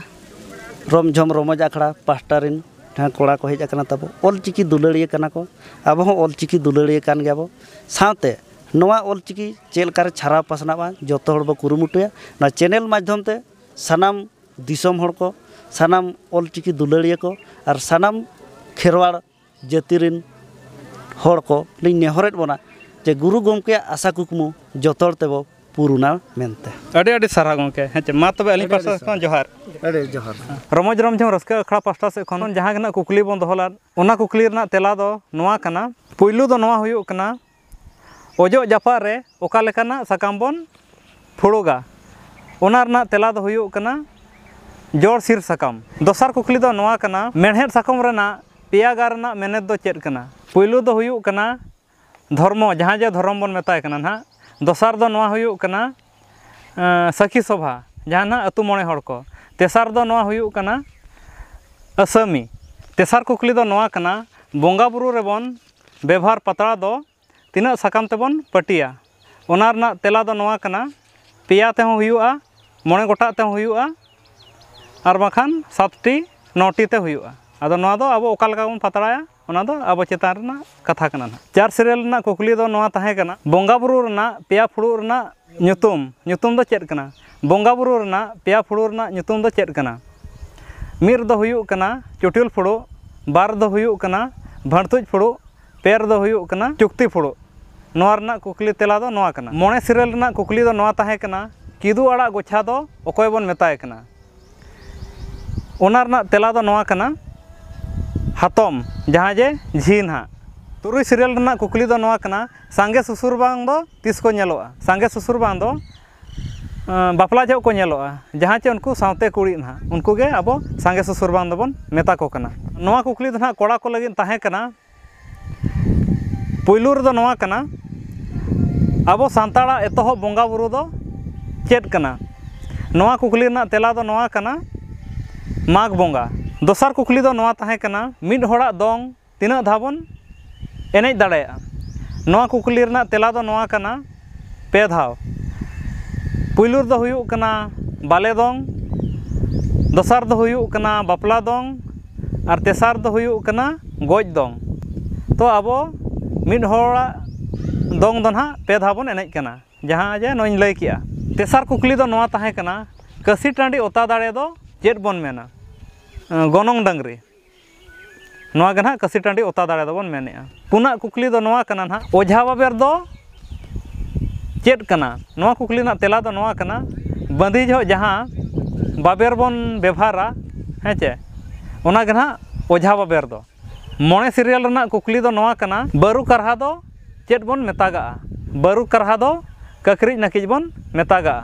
ᱨᱚᱢᱡᱷᱚᱢ ᱨᱚᱢᱚᱡᱽ ᱟᱠᱷᱲᱟ ᱯᱟᱥᱴᱟ ᱨᱮᱱ ᱡᱟᱦᱟᱸ ᱠᱚᱲᱟ ᱠᱚ ᱦᱮᱡ ᱟᱠᱟᱱᱟ ᱛᱟᱵᱚ ᱚᱞᱪᱤᱠᱤ ᱫᱩᱞᱟᱹᱲᱤᱭᱟᱹ ᱠᱟᱱᱟ ᱠᱚ ᱟᱵᱚ ᱦᱚᱸ ᱚᱞᱪᱤᱠᱤ ᱫᱩᱞᱟᱹᱲᱤᱭᱟᱹ ᱠᱟᱱ ᱜᱮᱭᱟ ᱵᱚᱱ ᱥᱟᱶᱛᱮ ᱱᱚᱣᱟ ᱚᱞᱪᱤᱠᱤ ᱪᱮᱫ ᱞᱮᱠᱟᱨᱮ ᱪᱷᱟᱨᱟᱣ ᱯᱟᱥᱱᱟᱜᱼᱟ ᱡᱚᱛᱚ ᱦᱚᱲ ᱵᱚ ᱠᱩᱨᱩᱢᱩᱴᱩᱭᱟ ᱱᱚᱣᱟ ᱪᱮᱱᱮᱞ ᱢᱟᱫᱽᱫᱷᱚᱢ ᱛᱮ ᱥᱟᱱᱟᱢ ᱫᱤᱥᱚᱢ ᱦᱚᱲ ᱠᱚ ᱥᱟᱱᱟᱢ ᱚᱞᱪᱤᱠᱤ ᱫᱩᱞᱟᱹᱲᱤᱭᱟᱹ ᱠᱚ ᱟᱨ ᱥᱟᱱᱟᱢ ᱠᱷᱮᱨᱣᱟᱲ ᱡᱟᱹᱛᱤ ᱨᱮᱱ ᱦᱚᱲ ᱠᱚ ᱞᱤᱧ ᱱᱮᱦᱚᱨᱮᱫ ᱵᱚᱱᱟ ᱡᱮ ᱜᱩᱨᱩ ᱜᱚᱢᱠᱮᱭᱟᱜ ᱟᱥᱟ ᱠᱩᱠᱢᱩ ᱡᱚᱛᱚ ᱦᱚᱲ ᱛᱮᱵᱚ ᱯᱩᱨᱩᱱᱟ ᱢᱮᱱᱛᱮ ᱟᱹᱰᱤ ᱟᱹᱰᱤ ᱥᱟᱨᱦᱟᱣ ᱜᱚᱢᱠᱮ ᱦᱮᱸ ᱪᱮ ᱢᱟ ᱛᱚᱵᱮ ᱟᱹᱞᱤᱧ ᱯᱟᱥᱴᱟ ᱥᱮᱫ ᱠᱷᱚᱱ ᱡᱚᱦᱟᱨ ᱟᱹᱰᱤ ᱡᱚᱦᱟᱨ ᱨᱚᱢᱚᱡᱽ ᱨᱚᱢᱡᱷᱚᱢ ᱨᱟᱹᱥᱠᱟᱹ ᱟᱠᱷᱲᱟ ᱯᱟᱥᱴᱟ ᱥᱮᱫ ᱠᱷᱚᱱ ᱡᱟᱦᱟᱸ ᱜᱮ ᱱᱟᱦᱟᱜ ᱠᱩᱠᱞᱤ ᱵᱚᱱ ᱫᱚᱦᱚ ᱞᱮᱫ ᱚᱱᱟ ᱠᱩᱠᱞᱤ ᱨᱮᱱᱟᱜ ᱛᱮᱞᱟ ᱫᱚ ᱱᱚᱣᱟ ᱠᱟᱱᱟ ᱯᱩᱭᱞᱩ ᱫᱚ ᱱᱚᱣᱟ ᱦᱩᱭᱩᱜ ᱠᱟᱱᱟ ᱚᱡᱚᱜ ᱡᱟᱯᱟᱜ ᱨᱮ ᱚᱠᱟ ᱞᱮᱠᱟᱱᱟᱜ ᱥᱟᱠᱟᱢ ᱵᱚᱱ ᱯᱷᱩᱲᱩᱜᱟ ᱚᱱᱟ ᱨᱮᱱᱟᱜ ᱛᱮᱞᱟ ᱫᱚ ᱦᱩᱭᱩᱜ ᱠᱟᱱᱟ ᱡᱚᱲ ᱥᱤᱨ ᱥᱟᱠᱟᱢ ᱫᱚᱥᱟᱨ ᱠᱩᱠᱞᱤ ᱫᱚ ᱱᱚᱣᱟ ᱠᱟᱱᱟ ᱢᱮᱬᱦᱮᱫ ᱥᱟᱠᱚᱢ ᱨᱮᱱᱟᱜ ᱯᱮᱭᱟ ᱜᱟᱨ ᱨᱮᱱᱟᱜ ᱢᱮᱱᱮᱛ ᱫᱚ ᱪᱮᱫ ᱠᱟᱱᱟ ᱯᱩᱭᱞᱩ ᱫᱚ ᱦᱩᱭᱩᱜ ᱠᱟᱱᱟ ᱫᱷᱚᱨᱢᱚ ᱡᱟᱦᱟᱸ ᱡᱮ ᱫᱷᱚᱨᱚᱢ ᱵᱚᱱ ᱢᱮᱛᱟᱭ ᱠᱟᱱᱟ ᱱᱟᱦᱟᱜ ᱫᱚᱥᱟᱨ ᱫᱚ ᱱᱚᱣᱟ ᱦᱩᱭᱩᱜ ᱠᱟᱱᱟ ᱥᱟᱹᱠᱷᱤ ᱥᱚᱵᱷᱟ ᱡᱟᱦᱟᱸ ᱱᱟᱦᱟᱜ ᱟᱹᱛᱩ ᱢᱚᱬᱮ ᱦᱚᱲ ᱠᱚ ᱛᱮᱥᱟᱨ ᱫᱚ ᱱᱚᱣᱟ ᱦᱩᱭᱩᱜ ᱠᱟᱱᱟ ᱟᱹᱥᱟᱹᱢᱤ ᱛᱮᱥᱟᱨ ᱠᱩᱠᱞᱤ ᱫᱚ ᱱᱚᱣᱟ ᱠᱟᱱᱟ ᱵᱚᱸᱜᱟ ᱵᱩᱨᱩ ᱨᱮᱵᱚᱱ ᱵᱮᱵᱷᱟᱨ ᱯᱟᱛᱲᱟ ᱫᱚ ᱛᱤᱱᱟᱹᱜ ᱥᱟᱠᱟᱢ ᱛᱮᱵᱚᱱ ᱯᱟᱹᱴᱤᱭᱟ ᱚᱱᱟ ᱨᱮᱱᱟᱜ ᱛᱮᱞᱟ ᱫᱚ ᱱᱚᱣᱟ ᱠᱟᱱᱟ ᱯᱮᱭᱟ ᱛᱮᱦᱚᱸ ᱦᱩᱭᱩᱜᱼᱟ ᱢᱚᱬᱮ ᱜᱚᱴᱟᱜ ᱛᱮᱦᱚᱸ ᱦᱩᱭᱩᱜᱼᱟ ᱟᱨ ᱵᱟᱝᱠᱷᱟᱱ ᱥᱟᱛᱴᱤ ᱱᱚᱴᱤ ᱛᱮ ᱦᱩᱭᱩᱜᱼᱟ ᱟᱫᱚ ᱱᱚᱣᱟ ᱫᱚ ᱟᱵᱚ ᱚᱠᱟ ᱞᱮᱠᱟ ᱵᱚᱱ ᱯᱟᱛᱲᱟᱭᱟ ᱚᱱᱟ ᱫᱚ ᱟᱵᱚ ᱪᱮᱛᱟᱱ ᱨᱮᱱᱟᱜ ᱠᱟᱛᱷᱟ ᱠᱟᱱᱟ ᱱᱟᱦᱟᱜ ᱪᱟᱨ ᱥᱮᱨᱮᱞ ᱨᱮᱱᱟᱜ ᱠᱩᱠᱞᱤ ᱫᱚ ᱱᱚᱣᱟ ᱛᱟᱦᱮᱸ ᱠᱟᱱᱟ ᱵᱚᱸᱜᱟ ᱵᱳᱨᱳ ᱨᱮᱱᱟᱜ ᱯᱮᱭᱟ ᱯᱷᱩᱲᱩᱜ ᱨᱮᱱᱟᱜ ᱧᱩᱛᱩᱢ ᱧᱩᱛᱩᱢ ᱫᱚ ᱪᱮᱫ ᱠᱟᱱᱟ ᱵᱚᱸᱜᱟ ᱵᱩᱨᱩ ᱨᱮᱱᱟᱜ ᱯᱮᱭᱟ ᱯᱷᱩᱲᱩᱜ ᱨᱮᱱᱟᱜ ᱧᱩᱛᱩᱢ ᱫᱚ ᱪᱮᱫ ᱠᱟᱱᱟ ᱢᱤᱫ ᱨᱮᱫᱚ ᱦᱩᱭᱩᱜ ᱠᱟᱱᱟ ᱪᱩᱴᱤᱞ ᱯᱷᱩᱲᱩᱜ ᱵᱟᱨ ᱨᱮᱫᱚ ᱦᱩᱭᱩᱜ ᱠᱟᱱᱟ ᱵᱷᱟᱹᱲᱛᱩᱡ ᱯᱷᱩᱲᱩᱜ ᱯᱮ ᱨᱮᱫᱚ ᱦᱩᱭᱩᱜ ᱠᱟᱱᱟ ᱪᱩᱠᱛᱤ ᱯᱷᱩᱲᱩᱜ ᱱᱚᱣᱟ ᱨᱮᱱᱟᱜ ᱠᱩᱠᱞᱤ ᱛᱮᱞᱟ ᱫᱚ ᱱᱚᱣᱟ ᱠᱟᱱᱟ ᱢᱚᱬᱮ ᱥᱤᱨᱟᱹᱞ ᱨᱮᱱᱟᱜ ᱠᱩᱠᱞᱤ ᱫᱚ ᱱᱚᱣᱟ ᱛᱟᱦᱮᱸ ᱠᱟᱱᱟ ᱠᱤᱫᱩ ᱟᱲᱟᱜ ᱜᱚᱪᱷᱟ ᱫᱚ ᱚᱠᱚᱭ ᱵᱚᱱ ᱢᱮᱛᱟᱭ ᱠᱟᱱᱟ ᱚᱱᱟ ᱨᱮᱱᱟᱜ ᱛᱮᱞᱟ ᱫᱚ ᱱᱚᱣᱟ ᱠᱟᱱᱟ ᱦᱟᱛᱚᱢ ᱡᱟᱦᱟᱸ ᱡᱮ ᱡᱷᱤ ᱱᱟᱦᱟᱜ ᱛᱩᱨᱩᱭ ᱥᱤᱨᱭᱟᱞ ᱨᱮᱱᱟᱜ ᱠᱩᱠᱞᱤ ᱫᱚ ᱱᱚᱣᱟ ᱠᱟᱱᱟ ᱥᱟᱸᱜᱮ ᱥᱩᱥᱩᱨ ᱵᱟᱝ ᱫᱚ ᱛᱤᱥ ᱠᱚ ᱧᱮᱞᱚᱜᱼᱟ ᱥᱟᱸᱜᱮ ᱥᱩᱥᱩᱨ ᱵᱟᱝ ᱫᱚ ᱵᱟᱯᱞᱟ ᱡᱚᱦᱚᱜ ᱠᱚ ᱧᱮᱞᱚᱜᱼᱟ ᱡᱟᱦᱟᱸ ᱪᱮ ᱩᱱᱠᱩ ᱥᱟᱶᱛᱮ ᱠᱩᱲᱤ ᱱᱟᱦᱟᱜ ᱩᱱᱠᱩ ᱜᱮ ᱟᱵᱚ ᱥᱟᱸᱜᱮ ᱥᱩᱥᱩᱨ ᱵᱟᱝ ᱫᱚᱵᱚᱱ ᱢᱮᱛᱟ ᱠᱚ ᱠᱟᱱᱟ ᱱᱚᱣᱟ ᱠᱩᱠᱞᱤ ᱫᱚ ᱱᱟᱦᱟᱜ ᱠᱚᱲᱟ ᱠᱚ ᱞᱟᱹᱜᱤᱫ ᱛᱟᱦᱮᱸ ᱠᱟᱱᱟ ᱯᱩᱭᱞᱩ ᱨᱮᱫᱚ ᱱᱚᱣᱟ ᱠᱟᱱᱟ ᱟᱵᱚ ᱥᱟᱱᱛᱟᱲᱟᱜ ᱮᱛᱚᱦᱚᱵ ᱵᱚᱸᱜᱟ ᱵᱩᱨᱩ ᱫᱚ ᱪᱮᱫ ᱠᱟᱱᱟ ᱱᱚᱣᱟ ᱠᱩᱠᱞᱤ ᱨᱮᱱᱟᱜ ᱛᱮᱞᱟ ᱫᱚ ᱱᱚᱣᱟ ᱠᱟᱱᱟ ᱢᱟᱜᱽ ᱵᱚᱸᱜᱟ ᱫᱚᱥᱟᱨ ᱠᱩᱠᱞᱤ ᱫᱚ ᱱᱚᱣᱟ ᱛᱟᱦᱮᱸ ᱠᱟᱱᱟ ᱢᱤᱫ ᱦᱚᱲᱟᱜ ᱫᱚᱝ ᱛᱤᱱᱟᱹᱜ ᱫᱷᱟᱣ ᱵᱚᱱ ᱮᱱᱮᱡ ᱫᱟᱲᱮᱭᱟᱜᱼᱟ ᱱᱚᱣᱟ ᱠᱩᱠᱞᱤ ᱨᱮᱱᱟᱜ ᱛᱮᱞᱟ ᱫᱚ ᱱᱚᱣᱟ ᱠᱟᱱᱟ ᱯᱮ ᱫᱷᱟᱣ ᱯᱩᱭᱞᱩ ᱨᱮᱫᱚ ᱦᱩᱭᱩᱜ ᱠᱟᱱᱟ ᱵᱟᱞᱮ ᱫᱚᱝ ᱫᱚᱥᱟᱨ ᱫᱚ ᱦᱩᱭᱩᱜ ᱠᱟᱱᱟ ᱵᱟᱯᱞᱟ ᱫᱚᱝ ᱟᱨ ᱛᱮᱥᱟᱨ ᱫᱚ ᱦᱩᱭᱩᱜ ᱠᱟᱱᱟ ᱜᱚᱡ ᱫᱚᱝ ᱛᱚ ᱟᱵᱚ ᱢᱤᱫ ᱦᱚᱲᱟᱜ ᱫᱚᱝ ᱫᱚ ᱱᱟᱦᱟᱜ ᱯᱮ ᱫᱷᱟᱣ ᱵᱚᱱ ᱮᱱᱮᱡ ᱠᱟᱱᱟ ᱡᱟᱦᱟᱸ ᱡᱮ ᱱᱚᱜᱼᱚᱭ ᱤᱧ ᱞᱟᱹᱭ ᱠᱮᱜᱼᱟ ᱛᱮᱥᱟᱨ ᱠᱩᱠᱞᱤ ᱫᱚ ᱱᱚᱣᱟ ᱛᱟᱦᱮᱸ ᱠᱟᱱᱟ ᱠᱟᱹᱥᱤ ᱴᱟᱺᱰᱤ ᱚᱛᱟ ᱫᱟᱲᱮ ᱫᱚ ᱪᱮᱫ ᱵᱚᱱ ᱢᱮᱱᱟ ᱜᱚᱱᱚᱝ ᱰᱟᱹᱝᱨᱤ ᱱᱚᱣᱟ ᱜᱮ ᱱᱟᱦᱟᱜ ᱠᱟᱹᱥᱤ ᱴᱟᱺᱰᱤ ᱚᱛᱟ ᱫᱟᱲᱮ ᱫᱚᱵᱚᱱ ᱢᱮᱱᱮᱜᱼᱟ ᱯᱩᱱᱟᱜ ᱠᱩᱠᱞᱤ ᱫᱚ ᱱᱚᱣᱟ ᱠᱟᱱᱟ ᱱᱟᱦᱟᱜ ᱚᱡᱷᱟ ᱵᱟᱵᱮᱨ ᱫᱚ ᱪᱮᱫ ᱠᱟᱱᱟ ᱱᱚᱣᱟ ᱠᱩᱠᱞᱤ ᱨᱮᱱᱟᱜ ᱛᱮᱞᱟ ᱫᱚ ᱱᱚᱣᱟ ᱠᱟᱱᱟ ᱵᱟᱺᱫᱤ ᱡᱚᱦᱚᱜ ᱡᱟᱦᱟᱸ ᱵᱟᱵᱮᱨ ᱵᱚᱱ ᱵᱮᱵᱷᱟᱨᱟ ᱦᱮᱸ ᱪᱮ ᱚᱱᱟ ᱜᱮ ᱱᱟᱦᱟᱜ ᱚᱡᱷᱟ ᱵᱟᱵᱮᱨ ᱫᱚ ᱢᱚᱬᱮ ᱥᱤᱨᱭᱟᱞ ᱨᱮᱱᱟᱜ ᱠᱩᱠᱞᱤ ᱫᱚ ᱱᱚᱣᱟ ᱠᱟᱱᱟ ᱵᱟᱹᱨᱩ ᱠᱟᱨᱦᱟ ᱫᱚ ᱪᱮᱫ ᱵᱚᱱ ᱢᱮᱛᱟᱜᱼᱟ ᱵᱟᱹᱨᱩ ᱠᱟᱨᱦᱟ ᱫᱚ ᱠᱟᱹᱠᱨᱤᱡ ᱱᱟᱹᱠᱤᱡ ᱵᱚᱱ ᱢᱮᱛᱟᱜᱼᱟ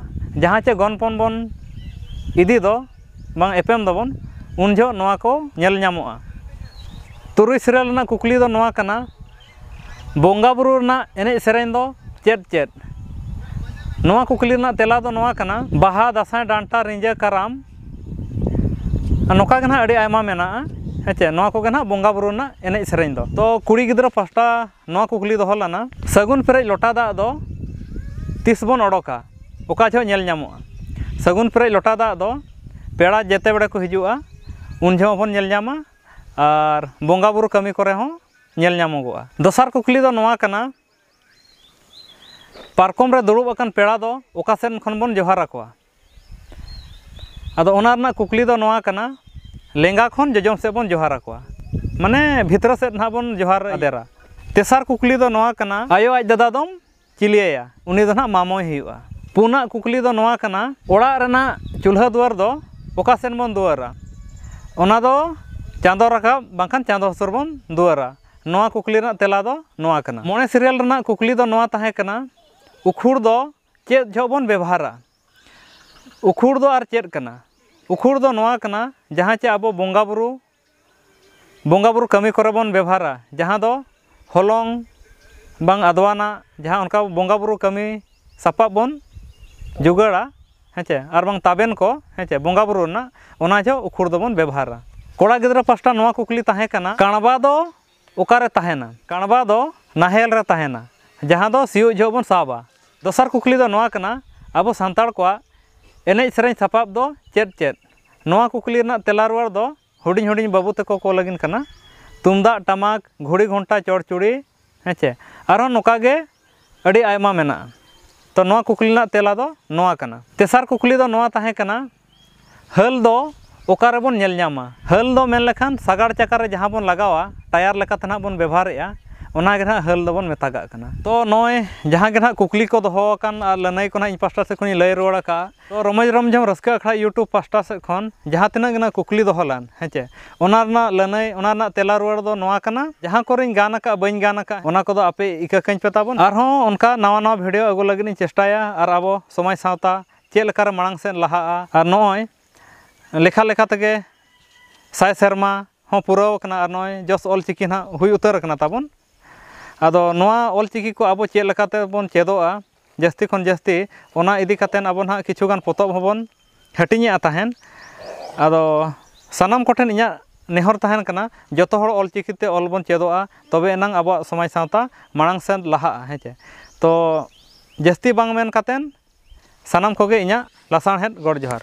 ᱡᱟᱦᱟᱸ ᱪᱮ ᱜᱚᱱᱯᱚᱱ ᱵᱚᱱ ᱤᱫᱤ ᱫᱚ ᱵᱟᱝ ᱮᱯᱮᱢ ᱫᱟᱵᱚᱱ ᱩᱱ ᱡᱚᱦᱚᱜ ᱱᱚᱣᱟ ᱠᱚ ᱧᱮᱞ ᱧᱟᱢᱚᱜᱼᱟ ᱛᱩᱨᱩᱭ ᱥᱤᱨᱭᱟᱹᱞ ᱨᱮᱱᱟᱜ ᱠᱩᱠᱞᱤ ᱫᱚ ᱱᱚᱣᱟ ᱠᱟᱱᱟ ᱵᱚᱸᱜᱟ ᱵᱳᱨᱳ ᱨᱮᱱᱟᱜ ᱮᱱᱮᱡ ᱥᱮᱨᱮᱧ ᱫᱚ ᱪᱮᱫ ᱪᱮᱫ ᱱᱚᱣᱟ ᱠᱩᱠᱞᱤ ᱨᱮᱱᱟᱜ ᱛᱮᱞᱟ ᱫᱚ ᱱᱚᱣᱟ ᱠᱟᱱᱟ ᱵᱟᱦᱟ ᱫᱟᱸᱥᱟᱭ ᱰᱟᱱᱴᱟ ᱨᱤᱸᱡᱷᱟᱹ ᱠᱟᱨᱟᱢ ᱱᱚᱝᱠᱟ ᱜᱮ ᱱᱟᱦᱟᱜ ᱟᱹᱰᱤ ᱟᱭᱢᱟ ᱢᱮᱱᱟᱜᱼᱟ ᱦᱮᱸ ᱪᱮ ᱱᱚᱣᱟ ᱠᱚᱜᱮ ᱱᱟᱦᱟᱜ ᱵᱚᱸᱜᱟ ᱵᱳᱨᱳ ᱨᱮᱱᱟᱜ ᱮᱱᱮᱡ ᱥᱮᱨᱮᱧ ᱫᱚ ᱛᱚ ᱠᱩᱲᱤ ᱜᱤᱫᱽᱨᱟᱹ ᱯᱟᱥᱴᱟ ᱱᱚᱣᱟ ᱠᱩᱠᱞᱤ ᱫᱚᱦᱚ ᱞᱮᱱᱟ ᱥᱟᱹᱜᱩᱱ ᱯᱮᱨᱮᱡ ᱞᱚᱴᱟ ᱫᱟᱜ ᱫᱚ ᱛᱤᱥ ᱵᱚᱱ ᱚᱰᱚᱠᱟ ᱚᱠᱟ ᱡᱚᱦᱚᱜ ᱧᱮᱞ ᱧᱟᱢᱚᱜᱼᱟ ᱥᱟᱹᱜᱩᱱ ᱯᱮᱨᱮᱡ ᱞᱚᱴᱟ ᱫᱟᱜ ᱫᱚ ᱯᱮᱲᱟ ᱡᱮᱛᱮ ᱵᱟᱲᱮ ᱠᱚ ᱦᱤᱡᱩᱜᱼᱟ ᱩᱱ ᱡᱚᱦᱚᱜ ᱦᱚᱸᱵᱚᱱ ᱧᱮᱞ ᱧᱟᱢᱟ ᱟᱨ ᱵᱚᱸᱜᱟ ᱵᱳᱨᱳ ᱠᱟᱹᱢᱤ ᱠᱚᱨᱮ ᱦᱚᱸ ᱧᱮᱞ ᱧᱟᱢᱚᱜᱚᱜᱼᱟ ᱫᱚᱥᱟᱨ ᱠᱩᱠᱞᱤ ᱫᱚ ᱱᱚᱣᱟ ᱠᱟᱱᱟ ᱯᱟᱨᱠᱚᱢ ᱨᱮ ᱫᱩᱲᱩᱵ ᱟᱠᱟᱱ ᱯᱮᱲᱟ ᱫᱚ ᱚᱠᱟ ᱥᱮᱫ ᱠᱷᱚᱱ ᱵᱚᱱ ᱡᱚᱦᱟᱨ ᱟᱠᱚᱣᱟ ᱟᱫᱚ ᱚᱱᱟ ᱨᱮᱱᱟᱜ ᱠᱩᱠᱞᱤ ᱫᱚ ᱱᱚᱣᱟ ᱠᱟᱱᱟ ᱞᱮᱸᱜᱟ ᱠᱷᱚᱱ ᱡᱚᱡᱚᱢ ᱥᱮᱫ ᱵᱚᱱ ᱡᱚᱦᱟᱨ ᱟᱠᱚᱣᱟ ᱢᱟᱱᱮ ᱵᱷᱤᱛᱨᱤ ᱥᱮᱫ ᱱᱟᱦᱟᱜ ᱵᱚᱱ ᱡᱚᱦᱟᱨ ᱟᱫᱮᱨᱟ ᱛᱮᱥᱟᱨ ᱠᱩᱠᱞᱤ ᱫᱚ ᱱᱚᱣᱟ ᱠᱟᱱᱟ ᱟᱭᱳ ᱟᱡ ᱫᱟᱫᱟ ᱫᱚᱢ ᱪᱤᱞᱤᱭᱟᱭᱟ ᱩᱱᱤ ᱫᱚ ᱱᱟᱦᱟᱜ ᱢᱟᱢᱚᱭ ᱦᱩᱭᱩᱜᱼᱟ ᱯᱩᱱᱟᱜ ᱠᱩᱠᱞᱤ ᱫᱚ ᱱᱚᱣᱟ ᱠᱟᱱᱟ ᱚᱲᱟᱜ ᱨᱮᱱᱟᱜ ᱪᱩᱞᱦᱟᱹ ᱫᱩᱣᱟᱹᱨ ᱫᱚ ᱚᱠᱟ ᱥᱮᱫ ᱵᱚᱱ ᱫᱩᱣᱟᱹᱨᱟ ᱚᱱᱟ ᱫᱚ ᱪᱟᱸᱫᱚ ᱨᱟᱠᱟᱵ ᱵᱟᱝᱠᱷᱟᱱ ᱪᱟᱸᱫᱚ ᱦᱟᱹᱥᱩᱨ ᱵᱚᱱ ᱫᱩᱣᱟᱹᱨᱟ ᱱᱚᱣᱟ ᱠᱩᱠᱞᱤ ᱨᱮᱱᱟᱜ ᱛᱮᱞᱟ ᱫᱚ ᱱᱚᱣᱟ ᱠᱟᱱᱟ ᱢᱚᱬᱮ ᱥᱤᱨᱭᱟᱞ ᱨᱮᱱᱟᱜ ᱠᱩᱠᱞᱤ ᱫᱚ ᱱᱚᱣᱟ ᱛᱟᱦᱮᱸ ᱠᱟᱱᱟ ᱩᱠᱷᱩᱲ ᱫᱚ ᱪᱮᱫ ᱡᱚᱦᱚᱜ ᱵᱚᱱ ᱵᱮᱵᱷᱟᱨᱟ ᱩᱠᱷᱩᱲ ᱫᱚ ᱟᱨ ᱪᱮᱫ ᱠᱟᱱᱟ ᱩᱠᱷᱩᱲ ᱫᱚ ᱱᱚᱣᱟ ᱠᱟᱱᱟ ᱡᱟᱦᱟᱸ ᱪᱮ ᱟᱵᱚ ᱵᱚᱸᱜᱟ ᱵᱳᱨᱳ ᱵᱚᱸᱜᱟ ᱵᱳᱨᱳ ᱠᱟᱹᱢᱤ ᱠᱚᱨᱮ ᱵᱚᱱ ᱵᱮᱵᱷᱟᱨᱟ ᱡᱟᱦᱟᱸ ᱫᱚ ᱦᱚᱞᱚᱝ ᱵᱟᱝ ᱟᱫᱣᱟᱱᱟᱜ ᱡᱟᱦᱟᱸ ᱚᱱᱠᱟ ᱵᱚᱸᱜᱟ ᱵᱳᱨᱳ ᱠᱟᱹᱢᱤ ᱥᱟᱯᱟᱵ ᱵᱚᱱ ᱡᱳᱜᱟᱲᱟ ᱦᱮᱸᱪᱮ ᱟᱨ ᱵᱟᱝ ᱛᱟᱵᱮᱱ ᱠᱚ ᱦᱮᱸᱪᱮ ᱵᱚᱸᱜᱟ ᱵᱳᱨᱳ ᱨᱮᱱᱟᱜ ᱚᱱᱟ ᱡᱚᱦᱚᱜ ᱩᱠᱷᱩᱲ ᱫᱚᱵᱚᱱ ᱵᱮᱵᱷᱟᱨᱟ ᱠᱚᱲᱟ ᱜᱤᱫᱽᱨᱟᱹ ᱯᱟᱥᱴᱟ ᱱᱚᱣᱟ ᱠᱩᱠᱞᱤ ᱛᱟᱦᱮᱸ ᱠᱟᱱᱟ ᱠᱟᱬᱵᱟ ᱫᱚ ᱚᱠᱟᱨᱮ ᱛᱟᱦᱮᱱᱟ? ᱠᱟᱬᱵᱟ ᱫᱚ ᱱᱟᱦᱮᱞ ᱨᱮ ᱛᱟᱦᱮᱱᱟ ᱡᱟᱦᱟᱸ ᱫᱚ ᱥᱤᱭᱳᱜ ᱡᱚᱦᱚᱜ ᱵᱚᱱ ᱥᱟᱵᱟ᱾ ᱫᱚᱥᱟᱨ ᱠᱩᱠᱞᱤ ᱫᱚ ᱱᱚᱣᱟ ᱠᱟᱱᱟ, ᱟᱵᱚ ᱥᱟᱱᱛᱟᱲ ᱠᱚᱣᱟᱜ ᱮᱱᱮᱡ ᱥᱮᱨᱮᱧ ᱥᱟᱯᱟᱵ ᱫᱚ ᱪᱮᱫ ᱪᱮᱫ? ᱱᱚᱣᱟ ᱠᱩᱠᱞᱤ ᱨᱮᱱᱟᱜ ᱛᱮᱞᱟ ᱨᱩᱣᱟᱹᱲ ᱫᱚ ᱦᱩᱰᱤᱧ ᱦᱩᱰᱤᱧ ᱵᱟᱹᱵᱩ ᱛᱮᱠᱚ ᱠᱚ ᱞᱟᱹᱜᱤᱱ ᱠᱟᱱᱟ᱾ ᱛᱩᱢᱫᱟᱜ ᱴᱟᱢᱟᱠ, ᱜᱷᱩᱲᱤ ᱜᱷᱚᱱᱴᱟ ᱪᱚᱲᱪᱩᱲᱤ ᱦᱮᱸᱪᱮ᱾ ᱟᱨᱦᱚᱸ ᱱᱚᱠᱟ ᱜᱮ ᱟᱹᱰᱤ ᱟᱭᱢᱟ ᱢᱮᱱᱟᱜᱼᱟ᱾ ᱛᱚ ᱱᱚᱣᱟ ᱠᱩᱠᱞᱤ ᱨᱮᱱᱟᱜ ᱛᱮᱞᱟ ᱫᱚ ᱱᱚᱣᱟ ᱠᱟᱱᱟ᱾ ᱛᱮᱥᱟᱨ ᱠᱩᱠᱞᱤ ᱫᱚ ᱱᱚᱣᱟ ᱛᱟᱦᱮᱸ ᱠᱟᱱᱟ᱾ ᱦᱟᱹᱞ ᱫᱚ ᱚᱠᱟ ᱨᱮᱵᱚᱱ ᱧᱮᱞ ᱧᱟᱢᱟ ᱦᱟᱹᱞ ᱫᱚ ᱢᱮᱱ ᱞᱮᱠᱷᱟᱱ ᱥᱟᱜᱟᱲ ᱪᱟᱠᱟ ᱨᱮ ᱡᱟᱦᱟᱸ ᱵᱚᱱ ᱞᱟᱜᱟᱣᱟ ᱴᱟᱭᱟᱨ ᱞᱮᱠᱟᱛᱮ ᱱᱟᱦᱟᱜ ᱵᱚᱱ ᱵᱮᱵᱷᱟᱨᱮᱜᱼᱟ ᱚᱱᱟ ᱜᱮ ᱱᱟᱦᱟᱜ ᱦᱟᱹᱞ ᱫᱚᱵᱚᱱ ᱢᱮᱛᱟᱜᱟᱜ ᱠᱟᱱᱟ ᱛᱚ ᱱᱚᱜᱼᱚᱸᱭ ᱡᱟᱦᱟᱸ ᱜᱮ ᱱᱟᱦᱟᱜ ᱠᱩᱠᱞᱤ ᱠᱚ ᱫᱚᱦᱚ ᱟᱠᱟᱱ ᱟᱨ ᱞᱟᱹᱱᱟᱹᱭ ᱠᱚ ᱱᱟᱦᱟᱜ ᱤᱧ ᱯᱟᱥᱴᱟ ᱥᱮᱫ ᱠᱷᱚᱱᱤᱧ ᱞᱟᱹᱭ ᱨᱩᱣᱟᱹᱲ ᱟᱠᱟᱜᱼᱟ ᱛᱚ ᱨᱚᱢᱚᱡᱽ ᱨᱚᱢᱡᱷᱚᱢ ᱨᱟᱹᱥᱠᱟᱹ ᱟᱠᱷᱲᱟ ᱤᱭᱩᱴᱩᱵᱽ ᱯᱟᱥᱴᱟ ᱥᱮᱫ ᱠᱷᱚᱱ ᱡᱟᱦᱟᱸ ᱛᱤᱱᱟᱹᱜ ᱜᱮ ᱱᱟᱦᱟᱜ ᱠᱩᱠᱞᱤ ᱫᱚᱦᱚ ᱞᱮᱱ ᱦᱮᱸ ᱪᱮ ᱚᱱᱟ ᱨᱮᱱᱟᱜ ᱞᱟᱹᱱᱟᱹᱭ ᱚᱱᱟ ᱨᱮᱱᱟᱜ ᱛᱮᱞᱟ ᱨᱩᱣᱟᱹᱲ ᱫᱚ ᱱᱚᱣᱟ ᱠᱟᱱᱟ ᱡᱟᱦᱟᱸ ᱠᱚᱨᱮᱧ ᱜᱟᱱ ᱟᱠᱟᱜᱼᱟ ᱵᱟᱹᱧ ᱜᱟᱱ ᱟᱠᱟᱜᱼᱟ ᱚᱱᱟ ᱠᱚᱫᱚ ᱟᱯᱮ ᱤᱠᱟᱹ ᱠᱟᱹᱧ ᱯᱮ ᱛᱟᱵᱚᱱ ᱟᱨᱦᱚᱸ ᱚᱱᱠᱟ ᱱᱟᱣᱟ ᱱᱟᱣᱟ ᱵᱷᱤᱰᱤᱭᱳ ᱟᱹᱜᱩ ᱞᱟᱹᱜᱤᱫ ᱤᱧ ᱪᱮᱥᱴᱟᱭᱟ ᱟᱨ ᱟᱵᱚ ᱥᱚᱢᱟᱡᱽ ᱥᱟᱶᱛᱟ ᱪᱮᱫ ᱞᱮᱠᱟ ᱨᱮ ᱢᱟᱲᱟᱝ ᱥᱮᱫ ᱞᱟᱦᱟᱜᱼᱟ ᱟᱨ ᱱᱚᱜᱼᱚᱭ ᱞᱮᱠᱷᱟ ᱞᱮᱠᱷᱟ ᱛᱮᱜᱮ ᱥᱟᱭ ᱥᱮᱨᱢᱟ ᱦᱚᱸ ᱯᱩᱨᱟᱹᱣ ᱠᱟᱱᱟ ᱟᱨ ᱱᱚᱜᱼᱚᱭ ᱡᱚᱥ ᱚᱞ ᱪᱤᱠᱤ ᱱᱟᱦᱟᱜ ᱦᱩᱭ ᱩᱛᱟᱹᱨ ᱠᱟᱱᱟ ᱛᱟᱵᱚᱱ ᱟᱫᱚ ᱱᱚᱣᱟ ᱚᱞ ᱪᱤᱠᱤ ᱠᱚ ᱟᱵᱚ ᱪᱮᱫ ᱞᱮᱠᱟ ᱛᱮᱵᱚᱱ ᱪᱮᱫᱚᱜᱼᱟ ᱡᱟᱹᱥᱛᱤ ᱠᱷᱚᱱ ᱡᱟᱹᱥᱛᱤ ᱚᱱᱟ ᱤᱫᱤ ᱠᱟᱛᱮᱫ ᱟᱵᱚ ᱱᱟᱦᱟᱜ ᱠᱤᱪᱷᱩ ᱜᱟᱱ ᱯᱚᱛᱚᱵ ᱦᱚᱸ ᱵᱚᱱ ᱦᱟᱹᱴᱤᱧᱮᱜᱼᱟ ᱛᱟᱦᱮᱸᱫ ᱟᱫᱚ ᱥᱟᱱᱟᱢ ᱠᱚᱴᱷᱮᱱ ᱤᱧᱟᱹᱜ ᱱᱮᱦᱚᱨ ᱛᱟᱦᱮᱱ ᱠᱟᱱᱟ ᱡᱚᱛᱚ ᱦᱚᱲ ᱚᱞ ᱪᱤᱠᱤ ᱛᱮ ᱚᱞ ᱵᱚᱱ ᱪᱮᱫᱚᱜᱼᱟ ᱛᱚᱵᱮ ᱮᱱᱟᱝ ᱟᱵᱚᱣᱟᱜ ᱥᱚᱢᱟᱡᱽ ᱥᱟᱶᱛᱟ ᱢᱟᱲᱟᱝ ᱥᱮᱫ ᱞᱟᱦᱟᱜᱼᱟ ᱦᱮᱸ ᱪᱮ ᱛᱚ ᱡᱟᱹᱥᱛᱤ ᱵᱟᱝ ᱢᱮᱱ ᱠᱟᱛᱮᱫ ᱥᱟᱱᱟᱢ ᱠᱚᱜᱮ ᱤᱧᱟᱹᱜ ᱞᱟᱥᱟᱲᱦᱮᱫ ᱜᱚᱰ ᱡᱚᱦᱟᱨ᱾